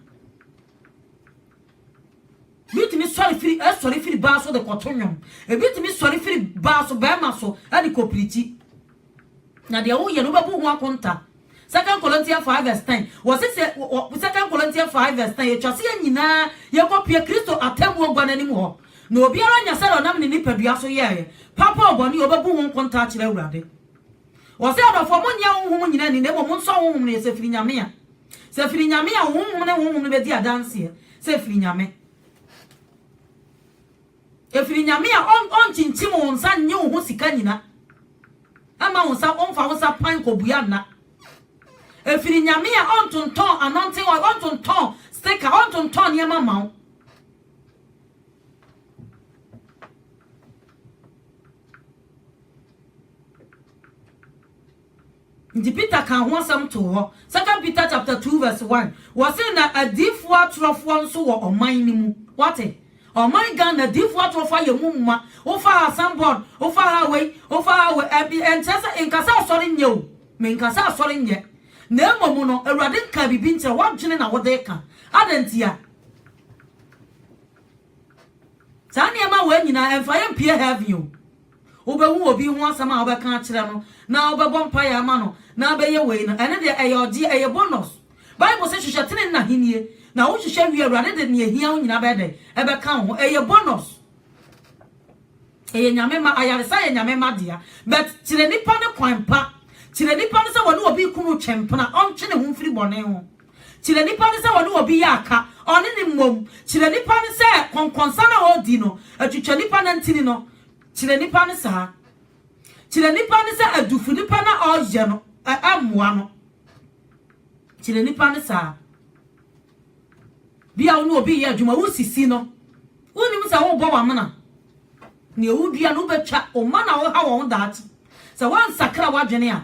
Bi tumi sɔre firi, ɛsɔre firi baa so de kɔto nnwom. Ebi tumi sɔre firi baa so, bɛrima so, de kɔpirikyi. Na deɛ woyɛ no wobɛbu ho akonta. Second Corinthians five verse ten. Wɔsi sɛ Second Corinthians five verse ten etwa sɛ yɛn nyinaa yɛkɔ pue Kristo atemmuo gua no anim hɔ. Na obiara nya sɛdeɛ ɔnam ne nipadua so yɛɛ papa o bɔne o ɔbɛbu ho nkonta akyerɛ Awurade. Wɔsi adɔfoɔ mo nnye ahonhom nyinaa nni na mmom mo nsɔ ahonhom no yɛ sɛ firi Nyame a. Sɛ firi Nyame a honhom ne honhom no bɛdi adanseɛ sɛ firi Nyame. Ɛfiri Nyame a ɔnkyinkyim wo nsa nnye wo ho sika nyina mma wo nsa ɔmfa wo nsa pan kɔbua nna. Ɛfiri Nyame a ɔntontɔn anointing oil, ɔntontɔn sticker, ɔntontɔn nneɛma mma wo. Ntsi Peter kãa ho asɛm too hɔ. Second Peter chapter two verse one, wɔse na adiyifoɔ atorɔfoɔ nso wɔ ɔman no mu. Woate? Ɔman Ghana, adiyifoɔ atorɔfoɔ ayɛ mu ma. Wofa ha asɛm bɔn, wofa ha wei, wofa ha wei, ɛn, ɛnkyerɛ sɛ, nka sɛ asɔre nyɛ o, menka sɛ asɔre nyɛ. Na mmom no, Awurade nkaa biribi nkyerɛ, w'adwene na wode reka. Adɛn ntia? Saa nneɛma wei nyinaa, ɛmfa yɛn mpue heaven o. Wobɛhu obi ho asɛm a wobɛka akyerɛ no, na wobɛbɔ mpaeɛ ama no, na abɛyɛ wei no, ɛno deɛ ɛyɛ ɔgyeɛ, ɛyɛ bonus. Bible sɛ, Hwehwɛ tenenee na ahennie, na wohwehwɛ wie a, Awurade de nea ɛhia wo nyinaa bɛyɛ dɛn? Ɛbɛka wo ho. Ɛyɛ bonus. Ɛyɛ Nyame mma. Ayaresa yɛ Nyame mma dea. But kyerɛ nipa no kwan pa. Kyerɛ nipa no sɛ wɔne obi kunu retwe mpena, ɔntwe ne ho mfiri bɔne ho. kyerɛ nnipa no sɛ ɔne obi yɛ aka, ɔne no mmom, kyerɛ nnipa no sɛ kɔnkɔnsa no a ɔredi no atwitwa nnipa nantini no, kyerɛ nnipa no saa, kyerɛ nnipa no sɛ adufo nnipa no a ɔreyɛ no mmoa no, kyerɛ nnipa no saa. Bi a wo ne obi reyɛ adwuma, wosisi no, wonnim sɛ worebɔ w'amena. Nea wodua no wobɛtwa, wo mma na woha wɔn ho daakye. Sɛ woansakra w'adwene a,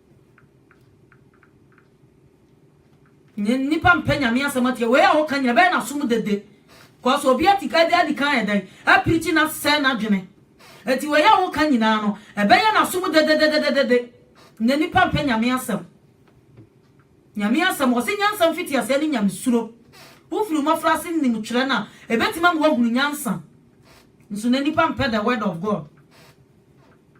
Nye nnipa mpɛ Nyame asɛm atie. Wei a woka nyina, ɛbɛyɛ no asom dede. Cos obi atika de adi kan ɛdɛn? Apirikyi no asɛe n'adwene. Enti wei a woka nyinaa no, ɛbɛyɛ no asom dededededede. Nye nnipa mpɛ Nyame asɛm. Nyame asɛm, wɔse nyansa mfitiaseɛ ne Nyamesuro. Wofiri wo mmɔfraase nim twerɛ no a, ɛbɛtumi ama woahunu nyansa. Nso na nnipa mpɛ the word of God.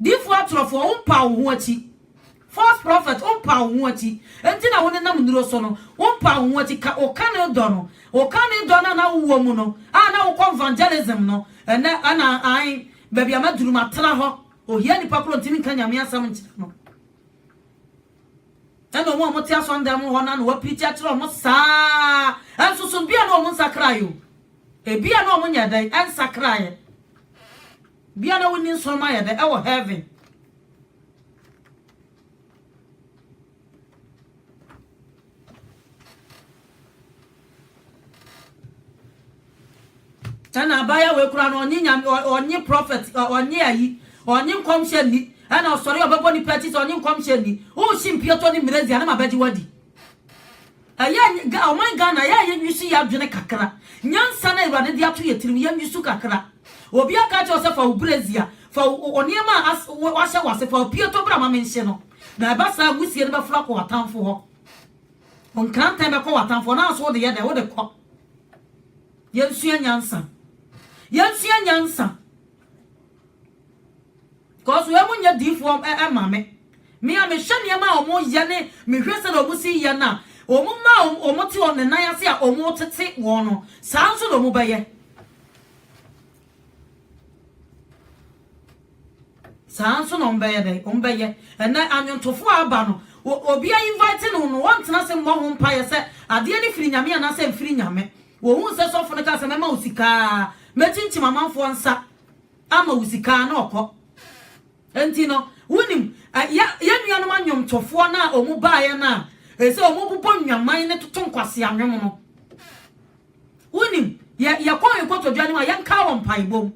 Difo atorofoɔ, wompaa wo ho akyi. False prophet, wompaa wo ho akyi. Enti na wonenam nnuro so no, wompaa wo ho akyi. Ka wo kane dɔ no. Wo kane dɔ no a na wowɔ mu no, a na wokɔ evangelism no, ɛnnɛ, ɛna ae, baabi a maduru, matena hɔ. Ohia nnipa koro ntumi nka Nyame asɛm nkyerɛ no. Ɛna wɔn a wɔte asɔndan mu hɔ no, na wɔapirikyi akyerɛ wɔn saa. Nso so, bia na wɔn nsakraeɛ o. Ebia na wɔn nyɛ dɛn, ɛnsakraeɛ. Bia na wonni nsɔromma yɛ dɛ wɔ heaven. Ɛna abaayewa wei koraa no ɔnye nyame ɔnye prɔfɛt ɔnye ayi ɔnye nkɔmhyɛ nni ɛna ɔsɔre ɔbɛbɔ nipa akyi sɛ ɔnye nkɔmhyɛ nni wohye mpiatɔ ne mmerɛzi anam abɛgye wadi Ɛyɛ a ɔman Ghana yɛ a yɛnwisu yɛ adwene kakra. Nyansa no a Awurade de ato yɛn tirim, yɛnwisu kakra. Obi aka akyerɛ wo sɛ fa wo brasier, fa wo nneɛma a wahyɛ w'ase, fa apueto bra ma menhye no. Na ɛba saa wusie no bɛforo akɔ w'atamfo hɔ. Wo nkrantɛn bɛkɔ w'atamfo hɔ. Na nso wode yɛ dɛ, wode kɔ. Yɛnsua nyansa. Yɛnsua nyansa. Cos wɔn nyɛ diifoɔ mma me. Me a mehwɛ nneɛma a wɔn yɛ ne mehwɛ sɛdeɛ wɔn si yɛ no a, wɔn mma a wɔn te wɔn ne nan ase a wɔn tete wɔn no, saa ara nso na wɔn bɛyɛ. Saa ara nso na wɔn bɛyɛ dɛn? Wɔn bɛyɛ. Ɛnɛ anwontofoɔ a aba no, obi a invite no no, wɔntena ase mmɔ ho mpaeɛ sɛ adeɛ no firi Nyame anaasɛ ɛmfiri Nyame. Wɔhunu sɛ sɔfo no kaa sɛ mɛma wo sika a, mɛkyinkyim amanfoɔ nsa. ama wo sika na ɔkɔ nti no wonim yɛ nuanom anwomtofoɔ no a ɔmu baeɛ no a ɛsɛ ɔmu bobɔ nnwaman ne toto nkwase anwom no wonim yɛkɔ nkotodwa no mu a yɛnka wɔ mpaebom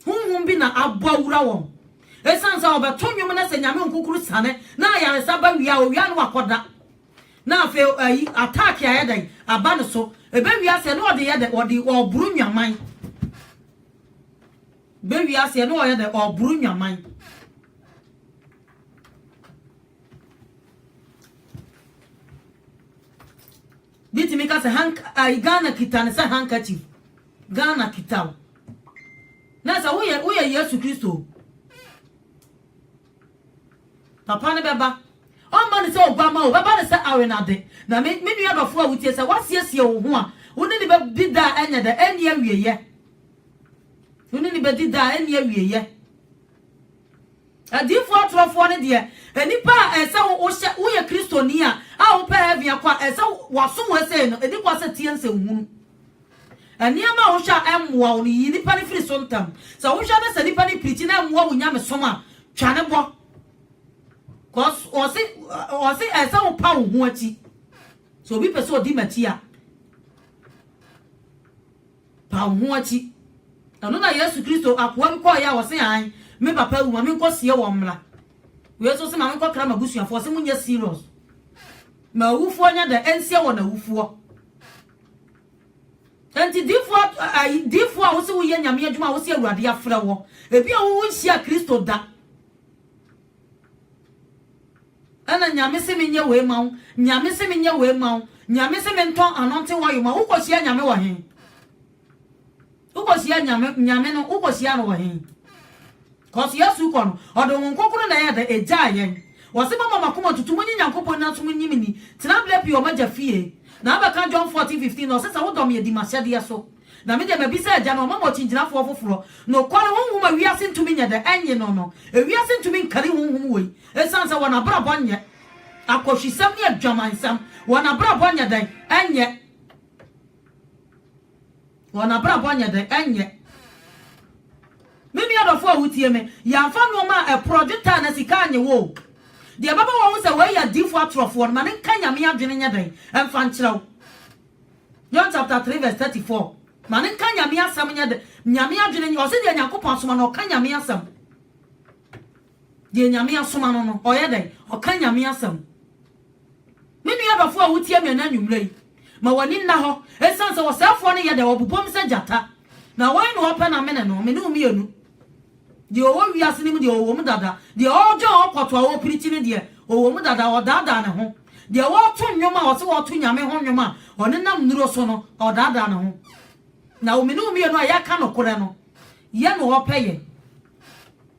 honhom bi na abɔ awura wɔn ɛsiane sɛ ɔbɛto nwom no sɛ nyame nkukuru sane na ayaresa ba wia owia no wakɔda Na afei ayi attack ayɛ dɛn aba no so ɛbɛ wiase ɛne ɔde yɛ dɛ ɔde ɔboro nwaman bɛ wiase ɛne ɔyɛ dɛ ɔboro nwaman bitumi ka sɛ hank ayi Ghana kita ne sɛ handkerchief Ghana kita o na sɛ woyɛ woyɛ Yesu Kristo Papa no bɛba. Ɔremma no sɛ oguamma o, ɔbɛba no sɛ awenade. Na me, me nua dɔfo a wutie, sɛ woasiesie wo ho a, wo ne no bedi da a ɛnyɛ dɛ, ɛnni awieyɛ. Wo ne no bedi da a ɛnni awieyɛ. Adiyifo atorofoɔ no deɛ, nnipa a ɛsɛ sɛ wohyɛ, woyɛ Kristoni a, a wopɛ heaven akɔ a, ɛsɛ sɛ wɔaso wo sei no, ɛdi kɔ sɛ tie nsɛnhunu. Nneɛma a wohwɛ a ɛmmoa wo no, yi nnipa no firi so ntɛm. Sɛ wohwɛ na sɛ nnipa no pirikyi na ɛmmoa wo nyamesom a, twa ne bɔ. Cause ɔse ɔse ɛsɛ sɛ wopa wo ho akyi. Sɛ obi pɛ sɛ odi m'akyi a, pa wo ho akyi. Ɛno na Yesu Kristo akoa bi kɔɔeɛ a ɔse an, me papa awu ma menkɔ sie wɔn mmra. Wei nso se ma menkɔkra m'abusuafoɔ, ɔse monyɛ serious. Ma awufoɔ nyɛ dɛ ɛnsie wɔn awufoɔ. Enti diyifo a ayi, diyifo a wose woyɛ Nyame adwuma a wose Awurade afrɛ wɔ, ebi a wowo nhyia Kristo da. Ɛna Nyame se menyɛ wei ma wo, Nyame se menyɛ wei ma wo, Nyame se mentɔn anointing oil ma wo, wokɔhyia Nyame wɔ he? Wobɔhyia Nyame Nyame no wobɔhyia no wɔ he? Cause Yesu kɔ no ɔde Honhom Kronkron na ɛyɛ dɛ egyaa yɛn. Wɔse moma moakoma tutu monye Nyankopɔn nyina nso monyim ni. Tena berɛ pii wɔ m'Agya fie. Na abɛka John 14, 15 no ɔse sɛ wodɔ me a di m'ahyɛdeɛ so. Na me deɛ mabisa Agya na wama me ɔkyingyinafoɔ foforɔ, nokware Honhom a wiase ntumi nyɛ dɛ ɛnye no no. Ewiase ntumi nkari Honhom wei esiane sɛ wɔn abrabɔ nyɛ akɔhwisɛm ne adwamansɛm. Wɔn abrabɔ nyɛ dɛn? Ɛnyɛ. Wɔn abrabɔ nyɛ dɛ, ɛnyɛ? Me nua dɔfo a wutie me, yɛamfa nnoɔma a ɛporɔ, dwetɛ anaa sika annye wo o. Deɛ ɛbɛma wɔahu sɛ wei yɛ adiyifoɔ atorɔfoɔ no, ma no nka Nyame adwene nyɛ dɛn mfa nkyerɛ wo. John chapter three verse thirty four, Ma no nka Nyame asɛm nyɛ dɛn, Nyame adwene, ɔse deɛ Nyankopɔn asoma no, ɔka Nyame asɛm. Deɛ Nyame asoma no no, ɔyɛ dɛn? Ɔka Nyame asɛm. Me nua dɔfoɔ a wotie me ɛnɛ anwummerɛ yi, ma w'ani nna hɔ, ɛsiane sɛ ɔsɛefoɔ no yɛ dɛ, ɔbobom sɛ gyata. Na hwan na ɔpɛ n'amene no? Me ne wo mmienu. Deɛ ɔwɔ wiase no mu deɛ, ɔwɔ mu dada. Deɛ ɔredwɛn ɔkɔto a ɔrepirikyi no deɛ, ɔwɔ mu dada, ɔdaadaa ne ho. Deɛ ɔreto nnwom a ɔse ɔreto Nyame ho nnwom a ɔnenam nnuro so no, ɔdaadaa ne ho. Na me ne wo mmienu a yɛka nokorɛ no, yɛn na ɔpɛ yɛn.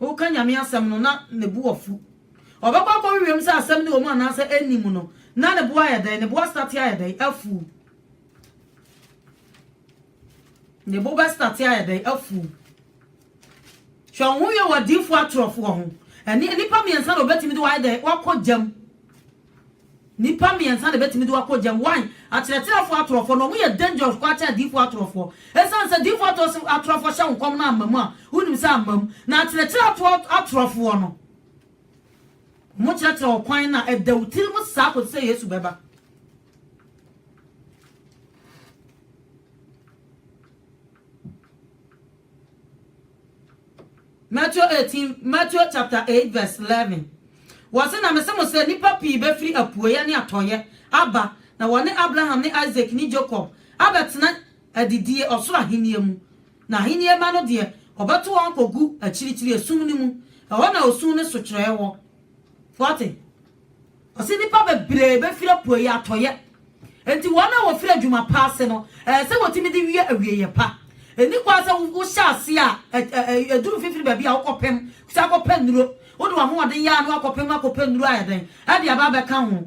Woka Nyame asɛm no na ne bo afu. Ɔbɛkɔ akɔhwehwɛ mu sɛ asɛm no wɔ mu anaasɛ ɛnni mu no, na ne bo ayɛ dɛn? Ne bo astate ayɛ dɛn? Afuw. Ne bo bɛstate ayɛ dɛn? Afuw. Hwɛ wo ho hwɛ wɔ adiyifoɔ atorɔfoɔ ho. Ɛne nnipa mmiɛnsa na wɔbɛtumi de wɔayɛ dɛn? Wɔakɔ gyam. Nipa miensa na ebetumi de wo akɔ gyam, one, akyerɛkyerɛfoɔ atorɔfoɔ, na wɔn yɛ dangerous koraa kyɛn adiyifoɔ atorɔfoɔ. Esiane sɛ diyifoɔ atorɔs atorɔfoɔ hyɛ wo nkɔm na amma mu a, wonim sɛ amma mu. Na akyerɛkyerɛatoɔ atorɔfoɔ no, wɔn kyerɛkyerɛ wɔ kwan na ɛda wo tiri mu saa kɔsi sɛ Yesu bɛba. Matthew eighteen, Matthew chapter eight verse eleven, Wɔse, Na mese mo sɛ, nnipa pii bɛfiri apueɛ ne atɔeɛ aba, na wɔne Abraham ne Isak ne Jakob abɛtena adidie ɔsoro ahennie mu, na ahennie mma no deɛ, wɔbɛto wɔn akɔgu akyirikyiri esum no mu, ɛhɔ na osu ne sokyerɛɛ wɔ. Fourteen. Ɔse nnipa bebree bɛfiri apueeɛ, atɔeɛ, enti wɔn a wɔfiri adwuma pa ase no, ɛyɛ sɛ wɔtumi de wie awieeɛ pa. Ɛnni kwan sɛ wohyɛ aseɛ a ɛduru mfimfini baabi a wokɔpem sɛ akɔpɛ nnuro, wode w'ahoɔden yɛ a na woakɔpem akɔpɛ nnuro ayɛ dɛn de aba abɛka ho.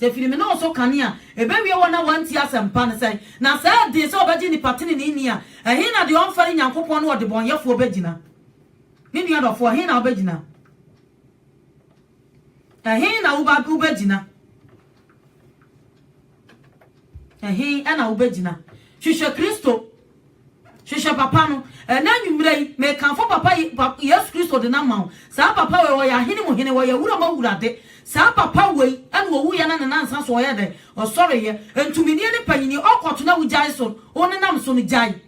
Sɛ firi me ne wo so kane a, ɛbɛwie wɔn a wɔantie asɛmpa no sɛn? Na sɛ ɛdee sɛ wɔbɛgye nnipa tenenee nni a, ɛhe na deɛ ɔmfɛre Nyankopɔn ne ɔdebɔneyɛfoɔ bɛgyina? Me nua dɔfoɔ, ɛhe na wobɛgyina? Ɛhe na wobɛgyina? Ɛhe na wobɛgyina? Hwehwɛ Kristo. Hwehwɛ papa no. Ɛnnɛ anwummerɛ yi, mekamfo papa yi, pa, Yesu Kristo de no ama wo. Saa papa wei, ɔyɛ ahene mu hene, ɔyɛ awura mu awurade. Saa papa wei na ɔwuiɛ na ne nansa so ɔyɛɛ dɛn? Ɔsɔreeɛ. Ntuminie ne panyini, ɔkɔto na wogyae so, wonenam so no, gyae.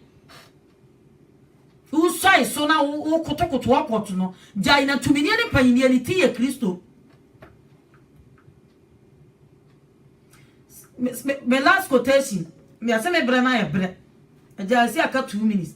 Wosuae so na wo, wokotokoto ɔkɔto no, gyae. Na ntuminie ne panyini, ne ti yɛ Kristo. Me last quotation, yɛse me berɛ no ayɛ berɛ. Agya ɛsi aka two minutes.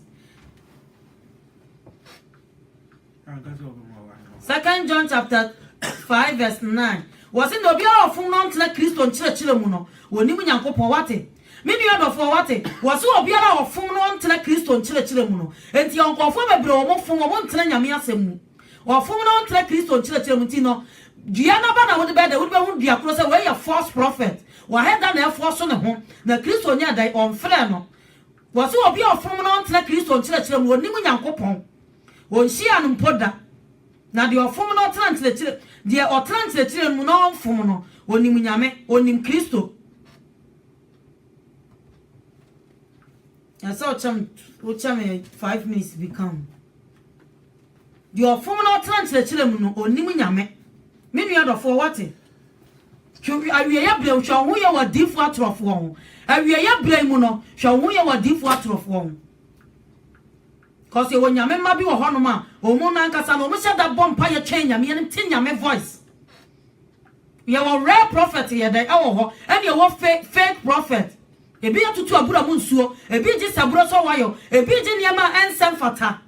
Second John chapter 5 verse 9. Wɔse na obiara ɔfom no ntena Kristo nkyerɛkyerɛ mu no, wɔnim Nyankopɔn wate. Me nua dɔfoɔ wate, wɔse obiara ɔfom no ntena Kristo nkyerɛkyerɛ mu no. Enti nkurɔfoɔ bebree wɔn fom, wɔn ntena Nyame asɛm mu. Ɔfom na ɔntra Kristo nkyerɛkyerɛ mu nti no dua no aba na wode bɛyɛ dɛn? Wode bɛhunu dua korɔ sɛ wei yɛ false prophet, ɔhɛ da na ɛfɔɔso ne ho na Kristo nyɛɛ dɛn? Ɔmfrɛɛ no. Wɔse obi a ɔfom na ɔntra Kristo nkyerɛkyerɛ mu ɔnnim Nyankopɔn, ɔnhyiaa no mpo da. Na deɛ ɔfom na ɔtra nkyerɛkyerɛ, deɛ ɔtra nkyerɛkyerɛ no mu na ɔmfom no, ɔnim Nyame, ɔnim Kristo. Na sɛ ɔkyɛ me wokyɛ me five minutes bi ka ho. Deɛ ɔfom na ɔtena nkyerɛkyerɛ mu no, ɔnnim Nyame. Me nua dɔfoɔ, woate? Twe awieɛ berɛ mu, hwɛ wo ho yɛ wɔ adiyifoɔ atorɔfoɔ ho. Awieɛ berɛ mu no, hwɛ wo ho yɛ wɔ adiyifoɔ atorɔfoɔ ho. Cause yɛwɔ Nyame mma bi wɔ hɔnom a, wɔn no ankasa no, wɔhyɛ da bɔ mpaeɛ twɛn Nyame anim, te Nyame voice. Yɛwɔ real prophet yɛ dɛn ɛwɔ hɔ ɛna yɛwɔ fake prophet ebi yɛ tutu abura mu nsuo ebi gye saburo sɔ wayɔ ebi gye nneɛma a ɛnsɛ mfata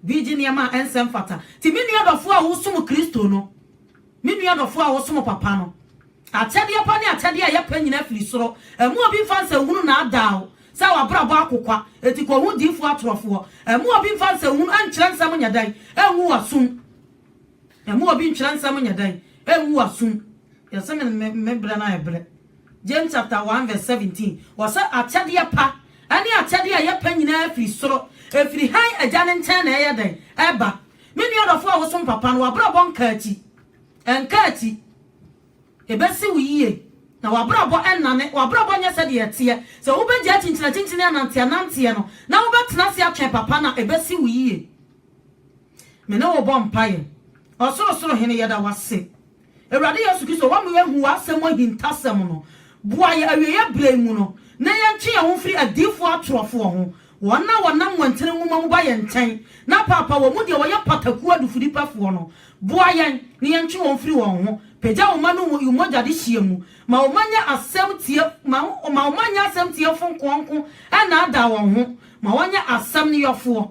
bi gye nneɛma a ɛnsɛ mfata ti me nua dɔfoɔ a wosom kristo no me nua dɔfoɔ a wosom papa no akyɛdeɛ pa ne akyɛdeɛ a yɛpɛ nyina afiri soro ɛmu obi mfa nsɛnhunu na adaaw sɛ wabrabɔ akokwa eti kɔ ho diifoɔ atorɔfoɔ ɛmu obi mfa nsɛnhunu ɛnkyerɛ nsɛm nyɛ dɛn ɛngu wasum Mma obi ntwerɛ nsɛm nyɛ dɛn? Ɛngu w'asom. Yɛse me berɛ no ayɛ berɛ. James chapter one verse seventeen, wɔse akyɛdeɛ pa ne akyɛdeɛ a ɛyɛ pɛ nyinaa firi soro, ɛfiri Hann Agya no nkyɛn na ɛyɛ dɛn? Ɛba. Me nua dɔfoɔ a wosom papa no, w'abrabɔ nka akyi. Ɛnka akyi. Ɛbɛsi wo yie. Na w'abrabɔ nnane. W'abrabɔ nyɛ sɛdeɛ ɛteɛ. Sɛ wobɛgyae kyinkyinakyinkyini ananteananteɛ no, na wobɛtena ase atwɛn papa no a, ɛbɛsi wo yie. Me ne wo bɔ mpaeɛ. Ɔsorosoro Hene, yɛda wo ase. Awurade Yesu Kristo, wama yɛahu w'asɛm mu ahintasɛm no. Boa yɛn awieɛ berɛ yi mu no, na yɛntwe yɛn ho mfiri adiyifoɔ atorɔfoɔ ho, wɔn a wɔnam nwantene nwoma mu ba yɛn nkyɛn na paapae wɔn mu deɛ wɔyɛ patakuo adufudepɛfoɔ no. Boa yɛn na yɛntwe wɔn mfiri wɔn ho. Pagya wo mma no wɔ mmogya dehyeɛ mu. Ma wo mma nyɛ asɛm tie, ma, ma wo mma nyɛ asɛm tiefo nkoanko nnaadaa wɔn ho. Ma wɔnyɛ asɛm no yɔfoɔ.